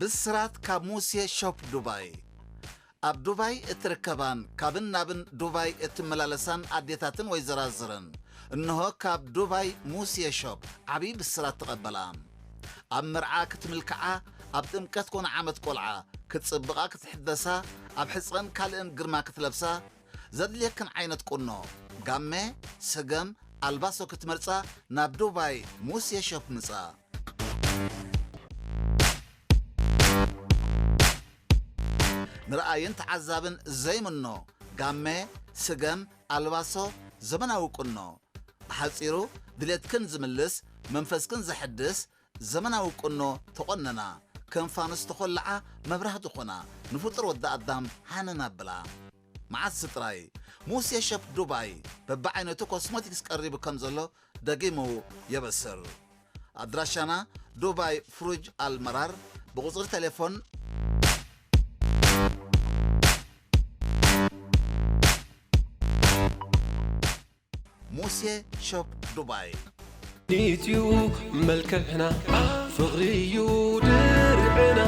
ብስራት ካብ ሙሴ ሾፕ ዱባይ ኣብ ዱባይ እትርከባን ካብን ናብን ዱባይ እትመላለሳን ኣዴታትን ወይ ዘራዝረን እንሆ ካብ ዱባይ ሙሴ ሾፕ ዓብዪ ብስራት ተቐበላ ኣብ መርዓ ክትምልክዓ ኣብ ጥምቀት ኮነ ዓመት ቆልዓ ክትጽብቓ ክትሕደሳ ኣብ ሕጽረን ካልእን ግርማ ክትለብሳ ዘድልየክን ዓይነት ቁኖ ጋመ ሰገም ኣልባሶ ክትመርጻ ናብ ዱባይ ሙሴ ሾፕ ምጻ። ንርኣይን ተዓዛብን ዘይምኖ ጋመ ስገም ኣልባሶ ዘመናዊ ቁኖ። ብሓጺሩ ድሌትክን ዝምልስ መንፈስክን ዘሐድስ ዘመናዊ ቁኖ ተቖነና፣ ከም ፋኑስ ተኾልዓ መብራህቲ ኾና ንፍጡር ወዲ ኣዳም ሃነን ኣብላ። መዓስ ጥራይ፣ ሙሴ ሸፍ ዱባይ በብዓይነቱ ኮስሞቲክስ ቀሪቡ ከም ዘሎ ደጊሙ የበስር። ኣድራሻና ዱባይ ፍሩጅ ኣልመራር ብቁፅሪ ቴሌፎን ሙሴ ሾፕ ዱባይ ኢትዩ መልክዕና ፍቕሪ እዩ ድርዕና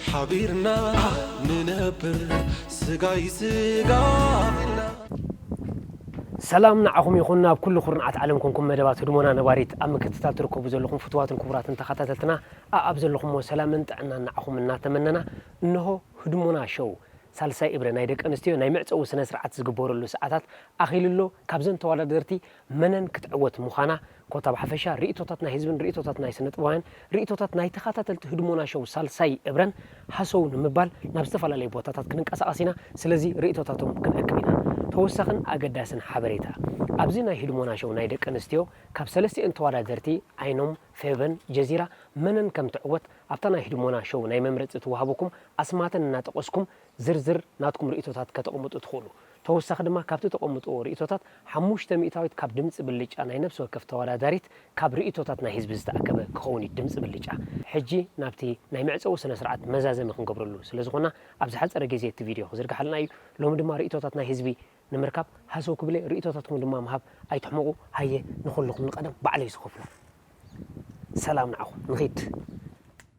ሓቢርና ንነብር ስጋይ ስጋ ኢልና ሰላም ንዓኹም ይኹን ኣብ ኩሉ ኩርንዓት ዓለም ኮንኩም መደባት ህድሞና ነባሪት ኣብ ምክትታል ትርከቡ ዘለኹም ፍቱዋትን ክቡራትን ተኻታተልትና ኣኣብ ዘለኹሞ ሰላምን ጥዕናን ንዓኹም እናተመነና እነሆ ህድሞና ሾው ሳልሳይ እብረ ናይ ደቂ ኣንስትዮ ናይ መዕጸዊ ስነ ስርዓት ዝግበረሉ ሰዓታት ኣኺሉሎ ካብዘን ተዋዳደርቲ መነን ክትዕወት ሙኻና ኮታ ብሓፈሻ ርእይቶታት ናይ ህዝብን ርእይቶታት ናይ ስነጥበባውያን ርእይቶታት ናይ ተኻታተልቲ ህድሞና ሸው ሳልሳይ እብረን ሃሰው ንምባል ናብ ዝተፈላለዩ ቦታታት ክንንቀሳቐስ ኢና ስለዚ ርእይቶታቶም ክንእክብ ኢና ተወሳኽን ኣገዳስን ሓበሬታ ኣብዚ ናይ ህድሞና ሸው ናይ ደቂ ኣንስትዮ ካብ ሰለስቲኤን ተዋዳደርቲ ኣይኖም ፌቨን ጀዚራ መነን ከምትዕወት ኣብታ ናይ ህድሞና ሸው ናይ መምረፂ ትዋሃበኩም ኣስማተን እናጠቐስኩም ዝርዝር ናትኩም ርእይቶታት ከተቕምጡ ትኽእሉ። ተወሳኺ ድማ ካብቲ ተቐምጥዎ ርእይቶታት ሓሙሽተ ሚእታዊት ካብ ድምጺ ብልጫ ናይ ነብሲ ወከፍ ተወዳዳሪት ካብ ርእይቶታት ናይ ህዝቢ ዝተኣከበ ክኸውን እዩ ድምጺ ብልጫ። ሕጂ ናብቲ ናይ መዕጸዊ ስነ ስርዓት መዛዘሚ ክንገብረሉ ስለ ዝኾና ኣብ ዝሓጸረ ግዜ እቲ ቪድዮ ክዝርግሓልና እዩ። ሎሚ ድማ ርእይቶታት ናይ ህዝቢ ንምርካብ ሃሰው ክብል'የ ርእይቶታትኩም ድማ ምሃብ ኣይትሕመቑ። ሃየ ንኹልኹም ንቐደም ባዕለይ ዝኸፍሎ ሰላም ንዓኹም ንኺድ።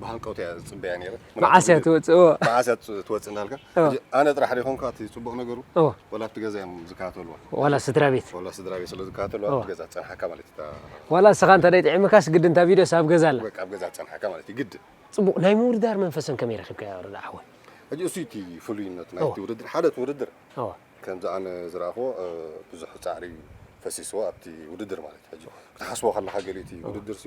ብሃንቀውታ እያ ዝፅበያ ነይረ መዓስ እያ ትወፅእ መዓስ እያ ትወፅእ እናልካ ኣነ ጥራሕ ደይኮንካ እቲ ፅቡቕ ነገሩ ዋላ ኣብቲ ገዛ እዮም ዝከታተልዋ ዋላ ስድራ ቤት ዋላ ስድራ ቤት ስለ ዝከታተልዋ ኣብቲ ገዛ ፀንሓካ ማለት እዩ ዋላ ንስኻ እንተ ጥዒምካስ ግድ እንታ ቪድዮስ ኣብ ገዛ ኣላ ኣብ ገዛ ፀንሓካ ማለት እዩ ግድ ፅቡቕ ናይ ምውድዳር መንፈሰን ከመይ ረኺብካዮ ረዳ ሓወይ ሕጂ እሱ እቲ ፍሉይነት ናይቲ ውድድር ሓደ እቲ ውድድር ከምዚ ኣነ ዝረኣኽዎ ብዙሕ ፃዕሪ ፈሲስዎ ኣብቲ ውድድር ማለት እዩ ሕጂ ክትሓስቦ ከለካ ገሊኡ እቲ ውድድር ሲ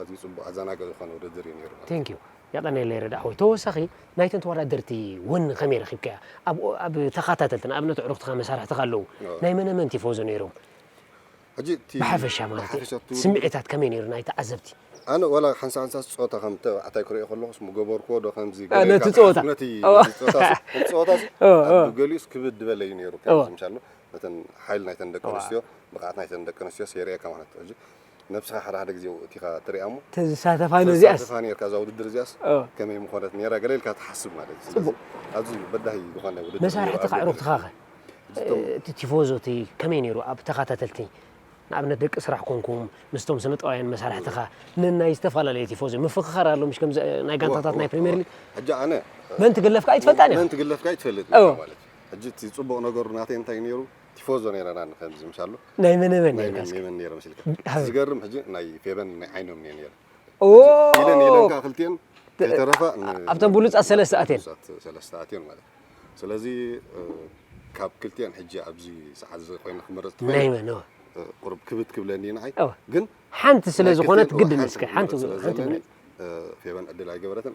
ኣዝዩ ጽቡቕ ኣዛናጊ ዝኾነ ውድድር እዩ ኔሩ ማለት እዩ። Thank you የቐኔለይ ረድኣወይ ተወሳኺ ናይተን ተወዳደርቲ ወኒ ከመይ ረኺብካያ ኣብ ኣብ ተኻታተልቲ ንኣብነት ኣዕሩኽትኻ መሳርሕትኻ ኣለዉ ናይ መነ መን ቲፎዞ ኔሮም ሕጂ እቲ ብሓፈሻ ማለት እየ ብሓፈሻ እቲ ውድድር ስምዒታት ከመይ ኔሩ ናይ ተዓዘብቲ ኣነ ዋላ ሓንሳ ሓንሳስ ጸወታ ከም ተባዕታይ ክርእዮ ከለኹስ ምገበርክዎ ዶ ከምዚ ገለ ነቲ ኢልካ ጸወታ። ትሓስብ ነቲ እወ። ነቲ ጸወታ እቲ ጸወታስ እወ፣ እወ። ኣብ ገሊኡስ ክብድ ዝበለ እዩ ኔሩ እወ። ከምዚ ምሻሎ ነተን ሓይል ናይተን ደቂ እወ። ኣንስትዮ ብቕዓት ናይተን ደቂ ኣንስትዮ ሴርኤካ ማለት ሕጂ ነብስኻ ሓደ ሓደ ግዜ ወእቲኻ ትሪኣ እሞ ተዝሳተፋ ነዚኣስ ተዝሳተፋ ኔርካ እዛ ውድድር እዚኣስ ከመይ ምኾነት ኔራ ገለ ኢልካ ትሓስብ ማለት እዩ ስለዚ ኣዝዩ በዳሂ ዝኾነ ውድድር መሳርሕቲ ካዕሩኽትኻ ከ እቲ ቲፎዞ እቲ ከመይ ነይሩ ኣብ ተኸታተልቲ ንኣብነት ደቂ ስራሕ ኮንኩም ምስቶም ስነ ጥበባውያን መሳርሕትኻ ንናይ ዝተፈላለየ ቲፎዞ ምፍኽኻር ኣሎ ምሽ ከምዚ ናይ ጋንታታት ናይ ፕሪምየር ሊግ ሕጂ ኣነ መን ትግለፍካ ኣይትፈልጣን መን ትግለፍካ ኣይትፈልጥ ማለት ሕጂ እቲ ፅቡቕ ነገሩ ናተይ እንታይ ነይሩ ቲፎዞ ነይረ ና ንከምዚ ምሻሉ ናይ መን መን ናይ መን መን ነይረ መስልካ ዝገርም ሕጂ ናይ ፌበን ናይ ዓይኖም ነይረ ነይረ ኢለን ኢለን ከ ክልቲኤን ተረፋ ኣብተን ብሉጻት ሰለስተ ኣትየን ሰለስተ ኣትየን ማለት ስለዚ ካብ ክልቲኤን ሕጂ ኣብዚ ሰዓት እዚ ኮይነ ክመረጽ ናይ መን ቁርብ ክብት ክብለኒ ንዓይ ግን ሓንቲ ስለ ዝኾነት ግድን እስከ ሓንቲ ሓንቲ ፌበን ዕድል ኣይገበረትን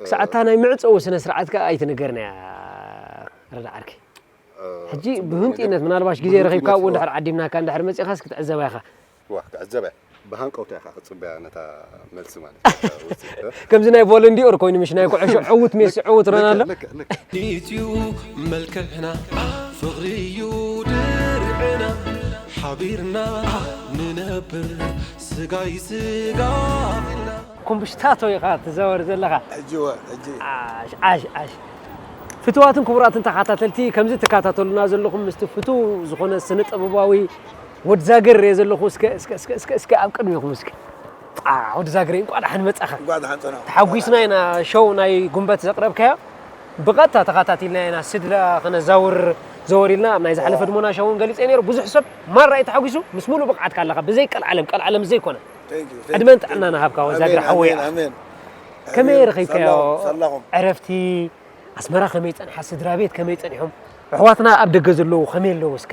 ክሳዕ እታ ናይ መዕጸዊ ስነ ስርዓት ከኣ ኣይትንገርን'ያ ረዳ ዓርከይ። ሕጂ ብህንጡይነት ምናልባሽ ግዜ ረኺብካ ኣብኡ እንድሕር ዓዲምናካ እንድሕር መጺኻስ ክትዕዘባ ኢኻ። እዋ ክዕዘብ'ያ ብሃንቀውታ ኢኻ ክትጽበያ ነታ መልሲ ማለት። ከምዚ ናይ ቮለንዲኦር ኮይኑ ምሽ ናይ ኩዕሾ ዕውት ሜሲ ዕውት ሮናልዶ። ልክዕ ልክዕ ልክዕ። ኢትዩ መልክዕና ፍቕሪ'ዩ ድርዕና ሓቢርና ንነብር ስጋይ ስጋ ኢልና። ኩምብሽታቶ ኢኻ ትዛወር ዘለኻ። ሕጂ እወ ሕጂ። ዓሽ ዓሽ ዓሽ ፍትዋትን ክቡራትን ተኻታተልቲ ከምዚ ትካታተሉና ዘለኹም ምስቲ ፍቱው ዝኾነ ስነ ጥበባዊ ወድ ዛግር ሪኤ ዘለኹ እስከ እስከ እስከ እስከ እስከ ኣብ ቅድሜኹም እስከ ዓሕ ወድ ዛግረይ እንቋዕ ደሓን መጻኻ እንቋዕ ደሓን ጸናሕኩ እንቋዕ ተሓጒስና ደሓን ኢና ሸው ናይ ጉንበት ዘቕረብካዮ ብቐጥታ ተኻታቲልና ኢና ስድራ ክነዛውር ዘወር ኢልና ኣብ ናይ ዝሓለፈ ድሞና ሸውን ገሊጸ ነይሩ ብዙሕ ሰብ ማራ እዩ ተሓጒሱ ምስ ምሉእ ብቕዓትካ ኣለኻ ብዘይ ቀልዓለም ቀልዓለም ዘይኮነ ዕድመን ጥዕናን እሃብካ ወዛግር ሓወይ ኣሕ ከመይ ረኺብካዮ ዕረፍቲ ኣስመራ ከመይ ጸንሓ ስድራቤት ከመይ ጸኒሖም ኣሕዋትና ኣብ ደገ ዘለዉ ከመይ ኣለዉ እስከ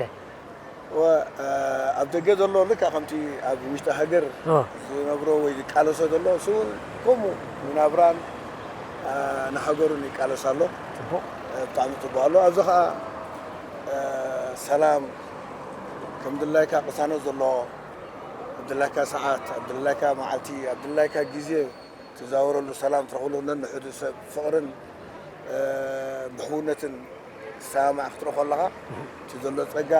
ኣብ ደገ ዘሎ ልካ ከምቲ ኣብ ውሽጢ ሃገር ዝነብሮ ወይ ዝቃለሶ ዘሎ እሱ እውን ከምኡ ንናብራን ንሃገሩን ይቃለስ ኣሎ ብጣዕሚ ፅቡቅ ኣሎ ኣብዚ ከዓ ሰላም ከምድላይካ ቅሳነት ዘለዎ ኣብ ድላይካ ሰዓት፣ ኣብ ድላይካ መዓልቲ፣ ኣብ ድላይካ ግዜ ትዛወረሉ፣ ሰላም ትረኽበሉ፣ ነንሕዱ ሰብ ብፍቕርን ብሕውነትን ዝሰማማዕ ክትርኢ ከለኻ እቲ ዘሎ ጸጋ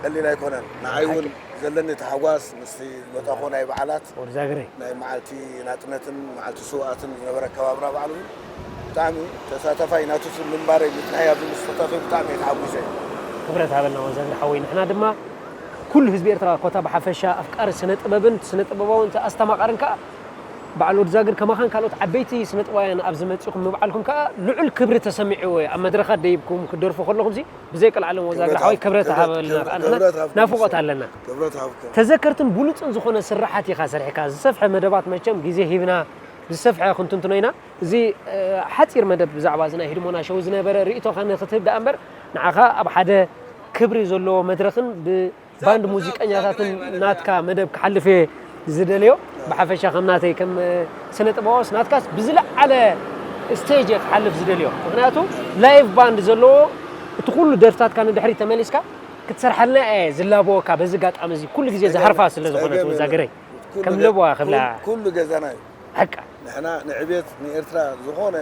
ቀሊል ኣይኮነን። ንዓይ እውን ዘለኒ ታሕጓስ ምስቲ ዝመጻእኩዎ ናይ በዓላት ናይ መዓልቲ ናጽነትን መዓልቲ ስውኣትን ዝነበረ ኣከባብራ በዓል እውን ብጣዕሚ ተሳታፋይ ናቱ ስብ ምንባረይ ምጽንሐይ ኣብዚ ምስ ተሳተፍኩ ብጣዕሚ እየ ተሓጉሰ። ክብረት ሃበልና ወንዛግር ሓወይ ንሕና ድማ ኩሉ ህዝቢ ኤርትራ ኮታ ብሓፈሻ ኣፍቃሪ ስነ ጥበብን ስነ ጥበባውን ኣስተማቃርን ከኣ በዓል ወድዛግር ከማኻን ካልኦት ዓበይቲ ስነ ጥበባውያን ኣብዚ መጺኹም ምብዓልኩም ከኣ ልዑል ክብሪ ተሰሚዕዎ እየ ኣብ መድረኻት ደይብኩም ክትደርፉ ከለኹምሲ ብዘይ ቀልዓለም ወዛግር ክብረት ሓወይ ክብረት ክብረት ሃበልና ከኣ ንሕና ክብረት ሃብኩም ናፍቆት ሰብ ኣለና ክብረት ሃብኩም። ተዘከርትን ብሉጽን ዝኾነ ስርሓት ኢኻ ሰሪሕካ ዝሰፍሐ መደባት መቸም ግዜ ሂብና ብዝሰፍሐ ክንትንትኖ ኢና። እዚ ሓጺር መደብ ብዛዕባ እዚ ናይ ህድሞና ሸው ዝነበረ ርእይቶኻ ንኽትህብ ደኣ እምበር ንዓኻ ኣብ ሓደ ክብሪ ዘለዎ መድረኽን ብባንድ ሙዚቀኛታትን ናትካ መደብ ክሓልፍ እየ ዝደልዮ። ብሓፈሻ ከም ናተይ ከም ስነ ጥበባውስ ናትካስ ብዝለዓለ ስቴጅ እየ ክሓልፍ ዝደልዮ። ምኽንያቱ ላይቭ ባንድ ዘለዎ እቲ ኩሉ ደርፍታትካ ንድሕሪት ተመሊስካ ክትሰርሓልና እየ ዝላበወካ በዚ ኣጋጣሚ እዚ ኩሉ ግዜ ዝሃርፋ ስለ ዝኾነት ወዛግረይ። ከም ለበዋ ክብላ ኩሉ ገዛና እዩ ሓቃ። ንሕና ንዕብየት ንኤርትራ ዝኾነ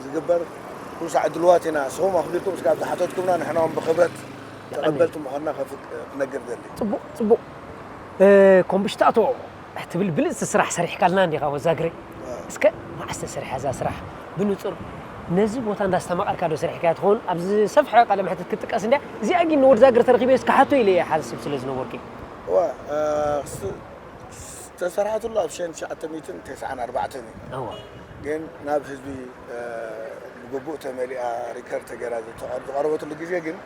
ዝግበር ኩሉ ሳዕ ድልዋት ኢና ንስኹም ኣኽቢርኩም እስካብ ዝሓተትኩምና ንሕና ውን ብኽብረት ተቐበልቲ ምዃንና ክነግር እደሊ። ጽቡቅ ጽቡቅ ኮምብሽታቶ ትብል ብልጽቲ ስራሕ ሰሪሕካልና እንዲኻ ወዛግሬ እስከ መዓስ ተሰሪሓ እዛ ስራሕ ብንጹር ነዚ ቦታ እንዳስተማቀርካ ዶ ሰሪሕካያ ትኸውን ኣብ ዝሰፍሐ ቃለ መሕትት ክትጥቀስ እንድያ እዚኣ ግን ንወድዛግሬ ተረኺበስ ክሓቶ ኢለ እየ ሓስብ ስለ ዝነበርኩ እዩ እወ ዝተሰርሐትሉ ኣብ ሸን ትሽዓተ ሚእትን ተስዓን ኣርባዕተን እዩ እወ ግን ናብ ህዝቢ ብግቡእ ተመሊኣ ሪከር ተገራ ዝቐረበትሉ ግዜ ግን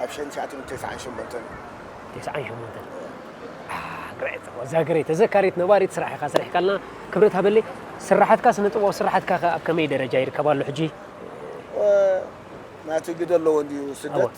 ኣብ ሸን ትሽዓተ ሚእትን ተስዓን ሸሞንተን እዩ ተስዓን ሸሞንተን ኣህ ግረይ እወ እዛ ግረይ ተዘካሪት ነባሪት ስራሕ ኢኻ ሰሪሕካልና ክብረት ሃበለይ ስራሓትካ ስነ ጥበባዊ ስራሓትካ ከ ኣብ ከመይ ደረጃ ይርከብ ኣሎ ሕጂ? ናቲ ግደ ኣለዎ እንድዩ ስደት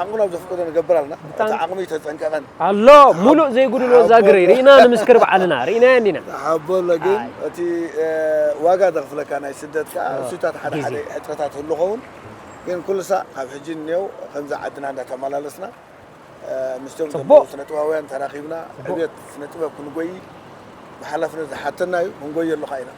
ዓቕምና ኣብ ዘፍቅዶ ንገብር ኣለና እቲ ዓቕሚ ተጠንቀቐን ኣሎ ሙሉእ ዘይጉድሎ ዛግሪ ርኢና ንምስክር ባዕልና ርኢናዮ እንዲና ሓቦ ኣሎ ግን እቲ ዋጋ ዘኽፍለካ ናይ ስደት ከዓ እሱታት ሓደ ሓደ ሕፅረታት ህሉ ኸውን ግን ኩሉ ሳዕ ካብ ሕጂ እኔው ከምዚ ዓድና እንዳተመላለስና ምስቶም ዘለዉ ስነጥበባውያን ተራኺብና ዕብየት ስነጥበብ ክንጎዪ ብሓላፍነት ዝሓተና እዩ፣ ክንጎየሉ ከኣ ኢና።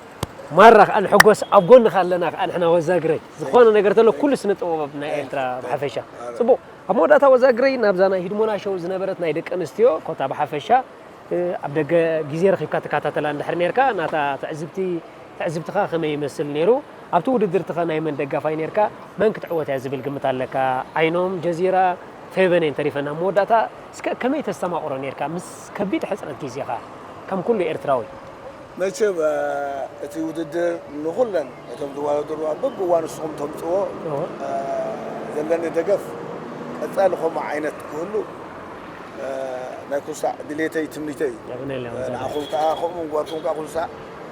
ማራ ከኣ ንሕጎስ ኣብ ጎንካ ኣለና ከኣ ንሕና ወዛግረይ ዝኮነ ነገር ተሎ ኩሉ ስነ ጥበብ ናይ ኤርትራ ብሓፈሻ ጽቡቅ ኣብ መወዳእታ ወዛግረይ ናብዛ ናይ ሂድሞና ሸው ዝነበረት ናይ ደቂ ኣንስትዮ ኮታ ብሓፈሻ ኣብ ደገ ግዜ ረኺብካ ትከታተላ እንድሕር ኔርካ ናታ ትዕዝብቲ ትዕዝብትኻ ከመይ ይመስል ኔሩ ኣብቲ ውድድርትኸ ናይ መን ደጋፋይ ኔርካ መን ክትዕወት እያ ዝብል ግምት ኣለካ ዓይኖም ጀዚራ ፌቨን እየን ተሪፈን ኣብ መወዳእታ እስከ ከመይ ተስተማቕሮ ኔርካ ምስ ከቢድ ሕጽረት ጊዜኻ ከም ኩሉ ኤርትራዊ። መቸም እቲ ውድድር ንኹለን እቶም ዝዋዳደሩ ኣብ በብእዋኑ ንስኹም ተምጽዎ ዘለኒ ደገፍ ቀጻሊ ከምኡ ዓይነት ክህሉ ናይ ኩልሳዕ ድሌተይ ትምኒተይ እዩ ንዓኹም ከኣ ከምኡ ምግባርኩም ከኣ ኩልሳዕ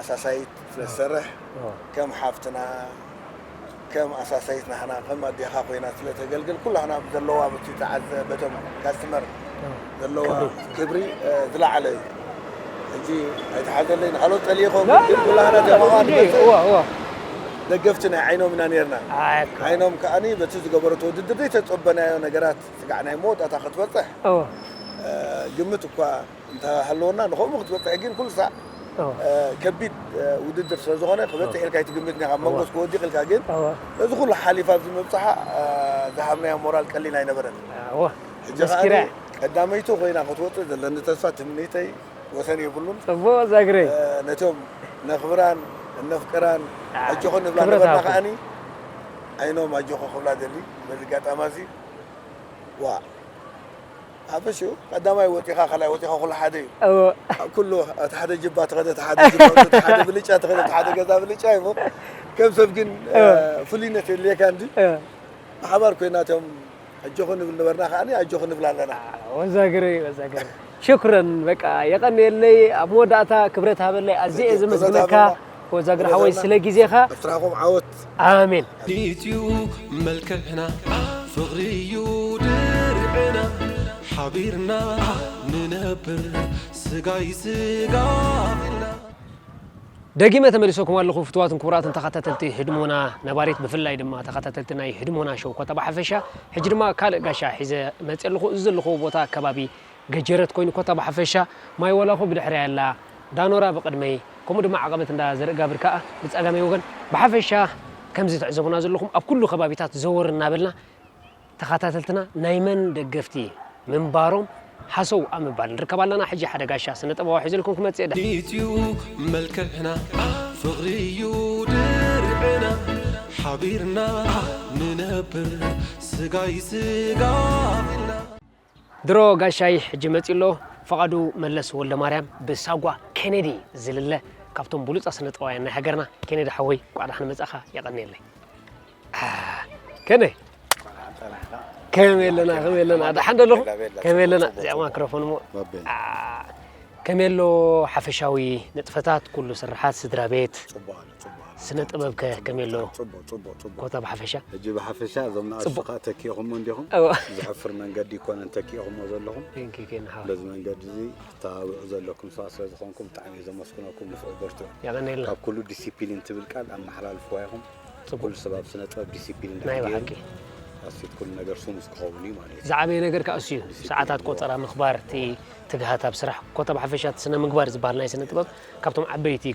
ኣሳሳይት ስለትሰርሕ ከም ሓፍትና ከም ኣሳሳይት ናህና ከም ኣዴኻ ኮይና ስለተገልግል ኩላህና ብዘለዋ ብቲ ተዓዘ በቶም ካስትመር ዘለዋ ክብሪ ዝለዓለ እዩ ሕጂ ኣይተሓዘለይ ንካልኦት ጸልየ ኮን ግን ኩላህና ደማዋ ንመጽእ ደገፍቲ ናይ ዓይኖም ኢና ነርና ዓይኖም ከኣኒ በቲ ዝገበረቶ ውድድር ዘይተጸበናዮ ነገራት ስጋዕ ናይ መወዳእታ ክትበጽሕ ግምት እኳ እንተ ሃለወና ንኸምኡ ክትበጽሕ ግን ኩሉ ሳዕ ከቢድ ውድድር ስለ ዝኾነ ክበጽሕ ኢልካ ኣይትግምትን ኢኻ። ኣብ መንጎ እስከ ወዲቕ ኢልካ ግን ነዚ ኩሉ ሓሊፋ ኣብዚ ምብጽሓ ዝሃብናዮ ሞራል ቀሊል ኣይነበረን። ሕጂ ከኣ ቀዳመይቲ ኮይና ክትወጽእ ዘለኒ ተስፋ ትምኒተይ ወሰን የብሉን። ጽቡቕ ዛግረይ። ነቶም ነኽብራን እነፍቅራን ኣጆኺ ንብላ ነበርና ከኣ ዓይኖም ኣጆኺ ክብላ እደሊ በዚ ኣጋጣሚ ኣዚ ዋእ። ሓፈሽ እዩ ቀዳማይ ወፂኻ ካልኣይ ወፂኻ ኩሉ ሓደ እዩ እወ ኣብ ኩሉ እቲ ሓደ ጅባ ተኸደ እቲ ሓደ ጅባ እቲ ሓደ ብልጫ ተኸደ እቲ ሓደ ገዛ ብልጫ እዩ እሞ ከም ሰብ ግን እ፣ ፍሉይነት የድልየካ እንጂ እወ ብሓባር ኮይና እቶም ኣጆኹ ንብል ነበርና ከዓኒ ኣጆኹ ንብል ኣለና ወዛግረይ ወዛግረይ ሽኩረን በቃ የቐንየለይ ኣብ መወዳእታ ክብረት ሃበለይ ኣዝየ እየ ክብረት ዘመስግነካ ሃበልና። ወዛግር ሓወይ ስለ ግዜኻ ስራኹም ዓወት ኣሜን ኢትዩ መልክዕና ፍቕሪ እዩ ድርዕና ሓቢርና ንነብር ስጋይ ስጋ ቢልና ደጊመ ተመሊሰኩም ኣለኹ ፍትዋትን ክቡራትን ተኸታተልቲ ህድሞና ነባሪት ብፍላይ ድማ ተኸታተልቲ ናይ ህድሞና ሸው ኮታ ብሓፈሻ ሕጂ ድማ ካልእ ጋሻ ሒዘ መፅእ ኣለኹ እዚ ዘለኹዎ ቦታ ከባቢ ገጀረት ኮይኑ ኮታ ብሓፈሻ ማይ ዋላኮ ብድሕረይ ኣላ ዳኖራ ብቅድመይ ከምኡ ድማ ዓቀበት እንዳ ዘርእጋብር ካኣ ብጸጋመይ ወገን ብሓፈሻ ከምዚ ትዕዘቡና ዘለኹም ኣብ ኩሉ ከባቢታት ዘወር እናበልና ተኻታተልትና ናይ መን ደገፍቲ ምንባሮም ሃሰው ኣብ ምባል ንርከብ ኣለና ሕጂ ሓደ ጋሻ ስነ ጥበባዊ ሒዘልኩም ክመጽእ እየ ዲዩ መልክዕና ፍቅሪ ዩ ድርዕና ሓቢርና ንነብር ስጋይ ስጋ ኢልና። ድሮ ጋሻይ ሕጂ መጺኡ ኣሎ ፍቓዱ መለስ ወልደማርያም ብሳጓ ኬኔዲ ዝልለ ካብቶም ብሉጻት ስነጥበባውያን ናይ ሃገርና ኬኔዲ ሓወይ እንቋዕ ደሓን መጻእካ የቐንየለይ ከመይ ከመይ ኣለና ከመይ ኣለና ደሓን ደለኹ ከመይ ኣለና እዚኣ ማክሮፎን እሞ ከመይ ኣሎ ሓፈሻዊ ንጥፈታት ኩሉ ስርሓት ስድራ ቤት ስነ ጥበብ ከ ከመይ ኣሎ? ጽቡቅ ጽቡቅ ጽቡቅ ኮታ ብሓፈሻ ሕጂ ብሓፈሻ እዞም ንኣሽቱ ከዓ ተኪእኹሞ እንዲኹም ዝሕፍር መንገዲ ይኮነን ተኪእኹሞ ዘለኹም በዚ መንገዲ እዚ ተባብዑ ዘለኩም ሰባት ስለ ዝኾንኩም ብጣዕሚ እየ ዘመስግነኩም ንፍዑ በርትዑ የቀነየልና ካብ ኩሉ ዲሲፕሊን ትብል ቃል ኣመሓላልፍዋ ኢኹም ኩሉ ሰብ ኣብ ስነ ጥበብ ዲሲፕሊን ናይ ድሕር ብሓቂ ገይሩ ኣስፊት ኩሉ ነገር ስሙዝ ክኸውን እዩ ማለት እዩ ዝዓበየ ነገር ከዓ እሱ እዩ ሰዓታት ቆፀራ ምኽባር እቲ ትግሃት ኣብ ስራሕ ኮታ ብሓፈሻ እቲ ስነ ምግባር ዝበሃል ናይ ስነ ጥበብ ካብቶም ዓበይቲ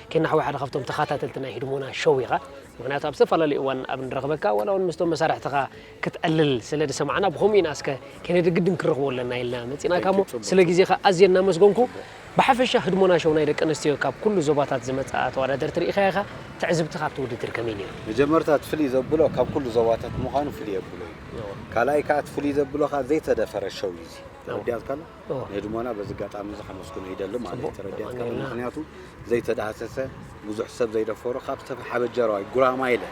ኪናሕዋ ሓደ ካብቶም ተኻታተልቲ ናይ ህድሞና ሾው ኢኻ ምኽንያቱ ኣብ ዝተፈላለዩ እዋን ኣብ ንረኽበካ ዋላ እውን ምስቶም መሳርሕትኻ ክትዕልል ስለ ዝሰማዕና ብኸምኡ ኢና እስከ ኬነዲ ግድን ክንረኽቦ ኣለና ኢልና መፂእናካ እሞ ስለ ግዜኻ ኣዝየ እናመስገንኩ ብሓፈሻ ህድሞና ሾው ናይ ደቂ ኣንስትዮ ካብ ኩሉ ዞባታት ዝመፃ ተወዳደርቲ ርኢኻያ ኢኻ ትዕዝብትኻ ኣብቲ ውድድር ከመይ ነይሩ? መጀመርታ እቲ ፍልይ ዘብሎ ካብ ኩሉ ዞባታት ምዃኑ ፍልይ የብሎ እዩ ካልኣይ ከዓ እቲ ፍልይ ዘብሎ ከዓ ዘይተደፈረ ሾው እዩ እዚ ተረዲኣትካዶ? ንህድሞና በዚ ኣጋጣሚ እዚ ከመስግኖ ይደሊ ማለት ተረዲኣትካ ዶ ምኽንያቱ ዘይተዳህሰሰ ብዙሕ ሰብ ዘይደፈሮ ካብ ዝተሓበጀረዋይ ጉራማይለ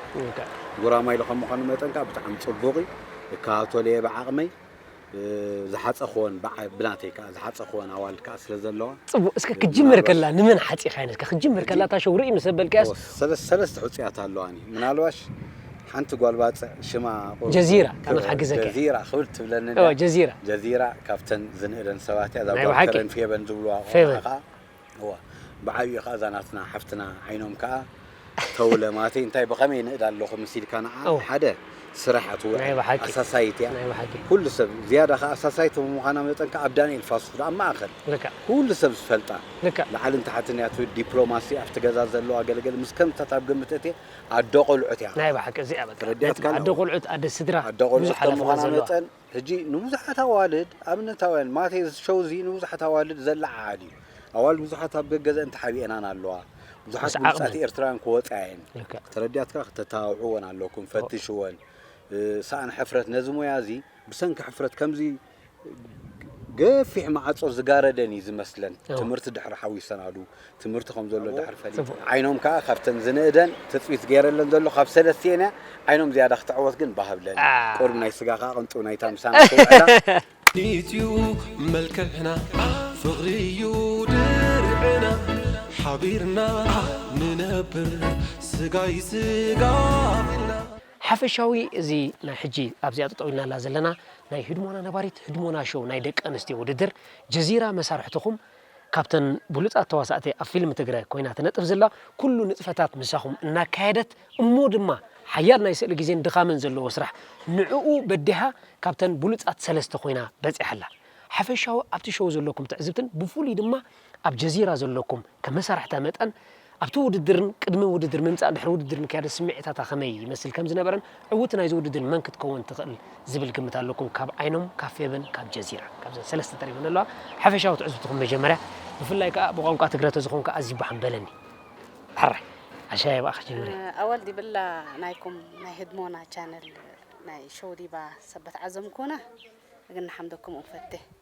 ጉራማይለ ከም ምዃኑ መጠን ከዓ ብጣዕሚ ፅቡቕ እዩ እከታተሎ እየ ብዓቕመይ ዝሓፀኽወን ብናተይ ከዓ ዝሓፀኽወን ኣዋልድ ከዓ ስለ ዘለዋ ፅቡቅ እስከ ክትጅምር ከላ ንመን ሓፂኻየን እስከ ክትጅምር ከላ እታ ሸው ርእይ ምስ ኣበልካያስ ሰለስተ ሕፁያት ኣለዋኒ ምናልባሽ ሓንቲ ጓል ባጽዕ ሽማ ጀዚራ ካብ ንሓግዘከ ጀዚራ ክብል ትብለኒ እዋ ጀዚራ ጀዚራ ካብተን ዝንእደን ሰባት እያ እዛ ናይ ጓል ብሓቂ። ከረን ፌበን ዝብልዋ ቆልዓ ፌበን። ከኣ እዋ ብዓቢኡ ከኣ እዛ ናትና ሓፍትና ዓይኖም ከኣ ተውለ ማቲ እንታይ ብኸመይ ይንእድ ኣለኹ ምስ ኢልካ ንዓ እዋ። ሓደ ስራሕ ናይ ትውዕል ብሓቂ ኣሳሳይት እያ ናይ ብሓቂ ኩሉ ሰብ ዝያዳ ከኣ ኣሳሳይት ብምዃና መጠን ከኣ ኣብ ዳንኤል ፋሱስ ዶ ኣብ ማእከል ልክዕ ኩሉ ሰብ ዝፈልጣ ልክዕ ላዕልን ታሕትን እያ ትብል ዲፕሎማሲ ኣብቲ ገዛ ዘለዋ ገለገለ ምስ ከምዚታት ኣብ ግምት እትየ ኣደ ቆልዑት እያ ናይ ባሓቂ እዚኣ በቃ ተረዲኣት ነጥቢ ኣደ ቆልዑት ኣደ ስድራ ኣደ ቆልዑት ብዙሕ ከም ሓላፍነት ምዃና ዘለዋ መጠን ሕጂ ንብዙሓት ኣዋልድ ኣብነታውያን ማት እዚ ሸው እዚ ንብዙሓት ኣዋልድ ዘለዓዓል እዩ ኣዋልድ ብዙሓት ኣብ ገገዘእን ተሓቢኤናን ኣለዋ ብዙሓት ምስ ብሉጻት ዓቕመን። ኤርትራውያን ክወጻ እየን ልክዕ ተረዲኣትካ ክተተባብዕወን ኣለኩም ፈትሽወን እ፣ ሰኣን ሕፍረት ነዚ ሞያ እዚ ብሰንኪ ሕፍረት ከምዚ ገፊሕ ማዕጾ ዝጋረደን እዩ ዝመስለን ትምህርቲ ድሕሪ ሓዊሰናሉ ትምህርቲ ከም ዘሎ ድሕሪ ፈሊ ዓይኖም ከዓ ካብተን ዝንእደን ትፅቢት ገይረለን ዘሎ ካብ ሰለስቲኤን እያ ዓይኖም ዝያዳ ክትዕወት ግን ባህብለን ቁርብ ናይ ስጋ ከዓ ቅንጡ ናይታ ምሳና ክውዕላ ኢትዩ መልክዕና ፍቕሪ እዩ ድርዕና ሓቢርና ንነብር ስጋይ ስጋ ሓፈሻዊ እዚ ናይ ሕጂ ኣብዚኣ ጠጠው ኢልናላ ዘለና ናይ ህድሞና ነባሪት ህድሞና ሾው ናይ ደቂ ኣንስትዮ ውድድር ጀዚራ መሳርሕትኹም ካብተን ብሉጻት ተዋሳእቲ ኣብ ፊልም ትግረ ኮይና ትነጥፍ ዘላ ኩሉ ንጥፈታት ምሳኹም እናካየደት እሞ ድማ ሓያል ናይ ስእሊ ግዜን ድኻምን ዘለዎ ስራሕ ንዕኡ በዲሃ ካብተን ብሉጻት ሰለስተ ኮይና በጺሓ ኣላ ሓፈሻዊ ኣብቲ ሾው ዘለኩም ትዕዝብትን ብፍሉይ ድማ ኣብ ጀዚራ ዘሎኩም ከም መሳርሕታ መጠን ኣብቲ ውድድርን ቅድሚ ውድድር ምምጻእ ድሕሪ ውድድር ምክያድን ስምዒታታ ከመይ ይመስል ከም ዝነበረን ዕውቲ ናይዚ ውድድር መን ክትከውን ትኽእል ዝብል ግምት ኣሎኩም ካብ ዓይኖም ካብ ፌበን ካብ ጀዚራ ካብዘን ሰለስተ ተሪፈን ዘለዋ ሓፈሻዊ ትዕዝብትኹም መጀመርያ ብፍላይ ከኣ ብቋንቋ ትግረ ተዝኾንካ ኣዝዩ ባሕም በለኒ ሕራይ ኣሻየ ብኣኻ ጀምርያ። ኣወል ዲብላ ናይኩም ናይ ህድሞና ቻነል ናይ ሸው ዲባ ሰበት ዓዘምኩና እግና ሓምደኩም ኡንፈቴ።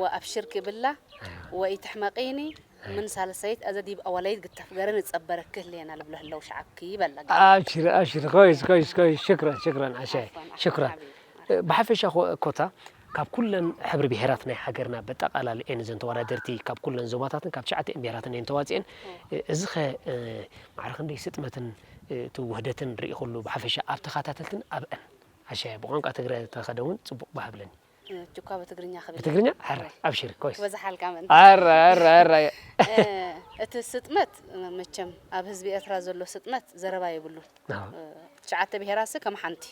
ወአብሽር ክብላ ወኢትሕመቂኒ ምን ሳልሰይት አዘ ዲብ አወለይት ግተፍ ገረ ንጸበረኪ ህሌና ልብሎ ህለው ሸዐብኪ በላ ገለ። አብሽሪ አብሽሪ ኮይስ ኮይስ ኮይስ ሽክረን ሽክረን ዓሻይ ዓፍወን ዓፍወን ሽክረን ሓቢቢ ማርያም። ብሓፈሻ ኮ- ኮታ ካብ ኩለን ሕብሪ ብሄራት ናይ ሃገርና በጠቓላሊ እየን እዘን ተወዳደርቲ ካብ ኩለን ዞባታትን ካብ ትሽዓተኤን ብሄራትን እየን ተዋፂኤን እዚ ኸ እ፣ ማዕረ ክንደይ ስጥመትን እ፣ እቲ ውህደትን ርኢኹሉ ብሓፈሻ ኣብ ተኸታተልትን ኣብአን ዓሻየ ብቋንቋ ትግረ ተኸደ እውን ፅቡቕ ባህ ብለኒ ጁኳ ብትግርኛ ክብል ብትግርኛ ኣረ ኣብሽሪ ኮይስ ክበዝሓልካ ምእንቲ ኣረ ኣረ ኣረ እቲ ስጥመት መቸም ኣብ ህዝቢ ኤርትራ ዘሎ ስጥመት ዘረባ የብሉን ትሽዓተ ብሄራትሲ ከም ሓንቲ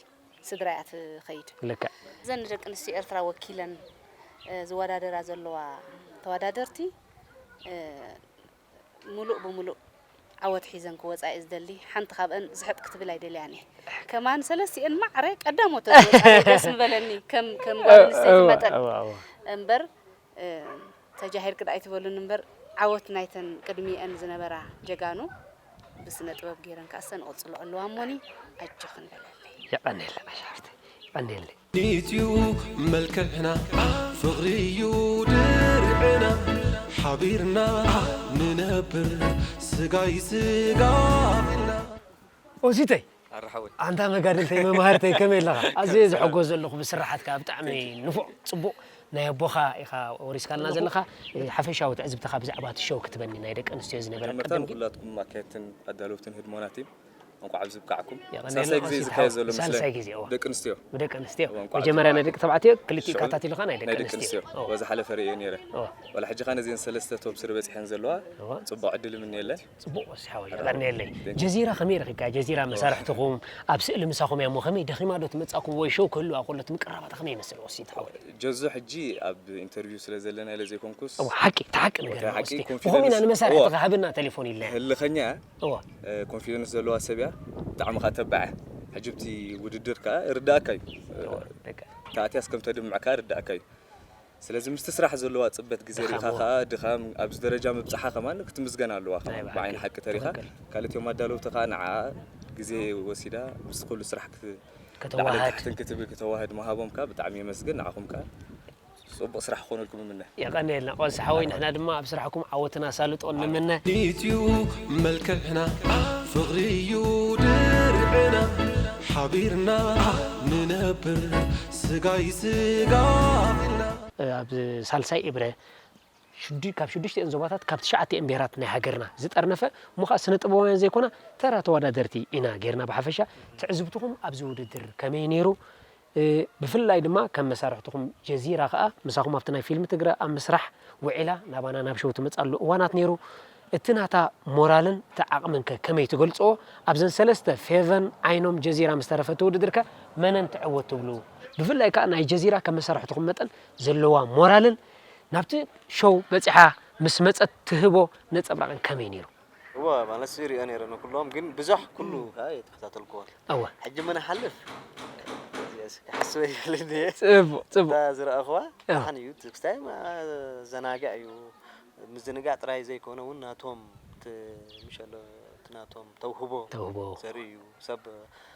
ስድራ እያ ትኸይድ ልክዕ እዘን ንደቂ ኣንስትዮ ኤርትራ ወኪለን ዝወዳደራ ዘለዋ ተወዳደርቲ ምሉእ ብምሉእ ዓወት ሒዘን ክወጻ እየ ዝደሊ ሓንቲ ካብአን ዝሕጥ ክትብል ኣይደልያን እየ ከማን ሰለስቲኤን ማዕረ ቀዳሞት ተዝወጻ ደስ ምበለኒ ከም ከም ጓል ኣንስተይቲ መጠን እምበር ተጃሂር ክዳ ኣይትበሉን እምበር ዓወት ናይተን ቅድሚኤን ዝነበራ ጀጋኑ ብስነ ጥበብ ገይረን ካሰን ቕጽሎ ኣለዋ እሞኒ ኣጆኽን በለለይ የቀኔለ ኣሻፍቲ የቀኔለ ኢትዩ መልክዕና ፍቕሪዩ ድርዕና ሓቢርና ንነብር ስጋይ ስጋ ቢልና። ኦሲተይ ኣረ ሓወይ ኣንታ መጋድልተይ መማህርተይ ከመይ ኣለኻ ኣዝየ ዝሕጎስ ዘለኹ ብስርሓትካ ብጣዕሚ ንፉዕ ጽቡቕ ናይ ኣቦኻ ኢኻ ወሪስካልና ዘለኻ ሓፈሻዊ ትዕዝብትኻ ብዛዕባ እቲ ሸው ክትበኒ ናይ ደቂ ኣንስትዮ ዝነበረ ቅድም ግን። ሰላም ንኹላትኩም ኣካየድትን ኣዳለውትን ህድሞና ቲም። እንኳዕ ኣብዚ ብቃዕኩም ሳልሳይ ግዜ ዝካየድ ዘሎ ሳልሳይ ግዜ እዋ ደቂ ኣንስትዮ ደቂ ኣንስትዮ መጀመርያ ናይ ደቂ ተባዕትዮ ክልቲኡ ካታቲልካ ናይ ደቂ ኣንስትዮ እዋ ዝሓለፈ ርእየ ነይረ ዋላ ሕጂ ከኣ ነዚን ሰለስተ ቶብ ስሪ በጺሐን ዘለዋ ጽቡቕ ዕድል ይምነየለን ጽቡቕ ወሲ ሓወይ የቐንየለይ ጀዚራ ከመይ ረኺብካ ጀዚራ መሳርሕትኹም ኣብ ስእሊ ምሳኹም እያ እሞ ከመይ ደኺማ ዶ ትመጻኩም ወይ ሾው ክህልዋ ከሎ እቲ ምቅርራባታ ከመይ ይመስል ወሲ ሓወይ ጀዙ ሕጂ ኣብ ኢንተርቪው ስለ ዘለና ኢለ ዘይኮንኩስ እዋ ሓቂ ተሓቂ ነገር ወሲ ኮሚና ንመሳርሕትኻ ሃብና ቴሌፎን ኢልና ህልኸኛ እወ። ኮንፊደንስ ዘለዋ ሰብ እያ ብጣዕሚ ከኣ ተባዕ እያ ሕጂ ኣብቲ ውድድር ከኣ ይርድኣካ እዩ ተኣትያስ ከም ተድምዕ ከኣ ይርድኣካ እዩ ስለዚ ምስቲ ስራሕ ዘለዋ ጽበት ግዜ ሪኢኻ ከኣ ድኻም ኣብዚ ደረጃ ምብጻሓ ከማን ክትምስገን ኣለዋ ከማን ብዓይኒ ሓቂ ተሪኻ ካልእ እቶም ኣዳለውቲ ከኣ ንዓኣ ግዜ ወሲዳ ምስቲ ኩሉ ስራሕ ክት ላዕልን ታሕትን ክትብል ክተዋህድ ምሃቦም ከኣ ብጣዕሚ የመስግን ንዓኹም ከኣ ጽቡቅ ስራሕ ክኮነልኩም እምነ። የቐንየልና ቐልሲ ሓወይ ንሕና ድማ ኣብ ስራሕኩም ዓወትን ኣሳልጦን ንምነ። ኢትዩ መልክዕና ፍቅሪ እዩ ድርዕና ሓቢርና ንነብር ስጋይ ስጋ ኢልና። ኣብ ሳልሳይ እብረ ካብ ሽዱሽቲኤን ዞባታት ካብ ትሽዓቲኤን ብሄራት ናይ ሃገርና ዝጠርነፈ እሞ ከኣ ስነ ጥበባውያን ዘይኮና ተራ ተዋዳደርቲ ኢና ጌርና ብሓፈሻ ትዕዝብትኹም ኣብዚ ውድድር ከመይ ኔሩ ብፍላይ ድማ ከም መሳርሕትኹም ጀዚራ ከኣ ምሳኹም ኣብቲ ናይ ፊልም ትግረ ኣብ ምስራሕ ውዒላ ናባና ናብ ሸው ትመጽኣሉ እዋናት ኔሩ እቲ ናታ ሞራልን እቲ ዓቕምን ከ ከመይ ትገልጽዎ ኣብዘን ሰለስተ ፌቨን ዓይኖም ጀዚራ ምስ ተረፈ እቲ ውድድር ከ መነን ትዕወት ትብሉ ብፍላይ ከኣ ናይ ጀዚራ ከም መሳርሕትኹም መጠን ዘለዋ ሞራልን ናብቲ ሸው በጺሓ ምስ መጸት ትህቦ ነጸብራቕን ከመይ ኔሩ? እወ ማለትስ ይሪኦ ነይረ ንኩሎም ግን ብዙሕ ኩሉ ከኣ ኣይተኸታተልኩዎን እወ ሕጂ ምነ ሓልፍ እዚኣስ ክሓስበ ይኽእል እንድየ ጽቡቅ ጽቡቅ እታ ዝረኣኹዋ እወ ደሓን እዩ እቲ ክስታይ ማ- ዘናግዕ እዩ ምዝንጋዕ ጥራይ ዘይኮነ ውን ናቶም እቲ ምሸ ኣሎ እቲ ናቶም ተውህቦ ተውህቦ ዘርኢ እዩ ሰብ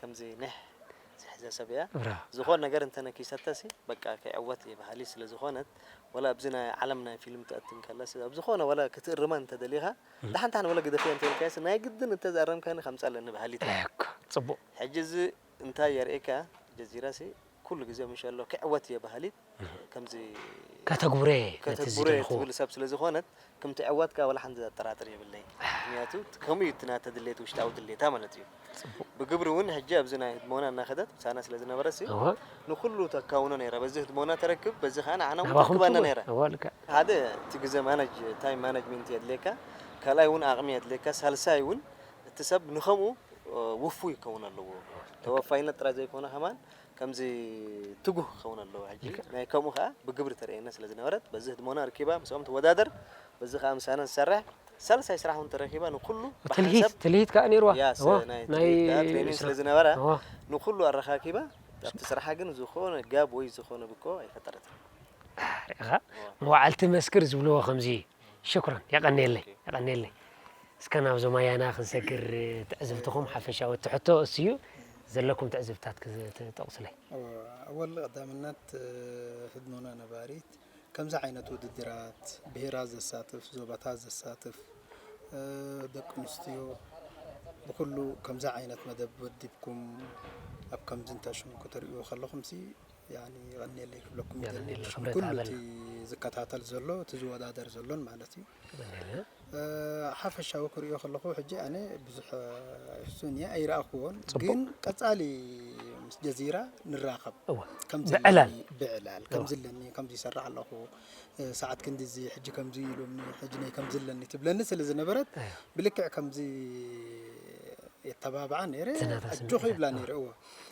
ከምዚ ኒሕ ዝሕዘ ሰብ እያ ዝኾን ነገር እንተ ነኪሰተሲ በቃ ከይዕወት እየ በሃሊት ስለ ዝኾነት ወላ ኣብዚ ናይ ዓለም ናይ ፊልም ትኣቲ እንከለሲ ኣብ ዝኾነ ወላ ክትእርማ እንተ ደሊኻ ዳሓን ዳሓን ወላ ግደፍያ እንተ ኢልካያሲ ናይ ግድን እንተ ዝኣረምካኒ ከምጻ ኣለኒ በሃሊት እያ እኮ ጽቡቅ ሕጂ እዚ እንታይ የርእየካ ጀዚራሲ ኩሉ ግዜ ምሸሎ ክዕወት እየ በሃሊት ከምዚ ከተግብሮ እየ ነቲ ከተግብሮ እየ ዝደልኽዎ። ትብል ሰብ ስለ ዝኾነት ክም ትዕወት ከኣ ወላ ሓንቲ ዘጠራጥር የብለይን። ምክንያቱ ከምኡ እዩ እቲ ናታ ድሌት ውሽጣዊ ድሌታ ማለት እዩ። ብግብሪ እውን ሕጂ ኣብዚ ናይ ህድሞና እናኸደት ምሳና ስለ ዝነበረት ሲ እወ ንኹሉ ተካውኖ ነይራ በዚ ህድሞና ተረክብ በዚ ከኣ ንዓና እውን ናባኹም ትረክበና ትብል ነይራ። እወ ልክዕ ሓደ እቲ ግዘ ማነጅ ታይም ማነጅሚንት የድልየካ ካልኣይ እውን ኣቕሚ የድልየካ ሳልሳይ እውን እቲ ሰብ ንከምኡ ውፉይ ክኸውን ኣለዎ። ተወፋይነት ጥራይ ዘይኮነ ከማን ከምዚ ትጉህ ክኸውን ኣለዎ ሕጂ ናይ ከምኡ ከኣ ብግብሪ ተርእየና ስለ ዝነበረት በዚ ህድሞና ኣርኪባ ምስኦም ትወዳደር በዚ ከኣ ምሳና ትሰርሕ ሳልሳይ ስራሕ ውን ተረኪባ ንኩሉ ብሓንሳብ ትልሂት ከኣ ኔርዋ ያስ ናይ ትልሂት ከኣ ትሬኒንግ ስለ ዝነበራ ንኩሉ ኣረካኪባ ኣብቲ ስርሓ ግን ዝኮነ ጋብ ወይ ዝኮነ ብኮ ኣይፈጠረትን። ርኢኻ መዋዕልቲ መስክር ዝብልዎ ከምዚ እዩ። ሽኩራን የቀንየለይ የቀንየለይ እስከ ናብዞም ኣያና ክንሰግር ትዕዝብትኹም ሓፈሻዊ እቲ ሕቶ እሱ እዩ ዘለኩም ትዕዝብታት ክትጠቕሱለይ ኣወል ቀዳምነት ህድሞና ነባሪት ከምዚ ዓይነት ውድድራት ብሄራት ዘሳትፍ ዞባታት ዘሳትፍ ደቂ ኣንስትዮ ብኩሉ ከምዚ ዓይነት መደብ ወዲብኩም ኣብ ከምዚ እንተሽሙ ክትሪኡ ከለኹም ሲ ያኒ የቀንየለይ ክብለኩም ይደሊ ኩሉ እቲ ዝከታተል ዘሎ እቲ ዝወዳደር ዘሎን ማለት እዩ ሓፈሻዊ ክሪኦ ከለኹ ሕጂ ኣነ ብዙሕ ሕሱን እየ ኣይረኣኹዎን ግን ቀፃሊ ምስ ጀዚራ ንራኸብ ከምብዕላል ብዕላል ከምዚ ኣለኒ ከምዚ ይሰራሕ ኣለኹ ሰዓት ክንዲ እዚ ሕጂ ከምዚ ኢሉኒ ሕጂ ነይ ከምዚ ኣለኒ ትብለኒ ስለ ዝነበረት ብልክዕ ከምዚ የተባብዓ ነይረ ኣጆኺ ይብላ ነይረ እዎ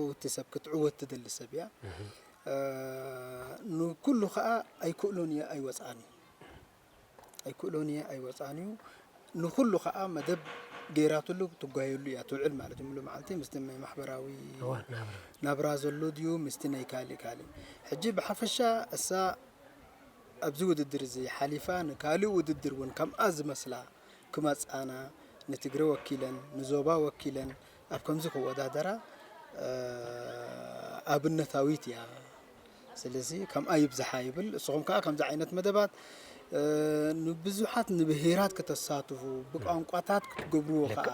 ዕውቲ ሰብ ክትዕወት ትደሊ ሰብ እያ ንኩሉ ከኣ ኣይክእሎን እየ ኣይወጽኣን እዩ ኣይክእሎን እየ ኣይወጽኣን እዩ ንኩሉ ከኣ መደብ ገይራትሉ ትጓየሉ እያ ትውዕል ማለት እዩ ሙሉ መዓልቲ ምስቲ ናይ ማሕበራዊ ናብራ ዘሎ ድዩ ምስቲ ናይ ካልእ ካልእ ሕጂ ብሓፈሻ እሳ ኣብዚ ውድድር እዚ ሓሊፋ ንካልእ ውድድር እውን ከምኣ ዝመስላ ክመፃና ንትግረ ወኪለን ንዞባ ወኪለን ኣብ ከምዚ ክወዳደራ ኣብነታዊት እያ ስለዚ ከምኣ ይብዝሓ ይብል እስኹም ከዓ ከምዚ ዓይነት መደባት ንብዙሓት ንብሄራት ክተሳትፉ ብቋንቋታት ክትገብርዎ ከዓ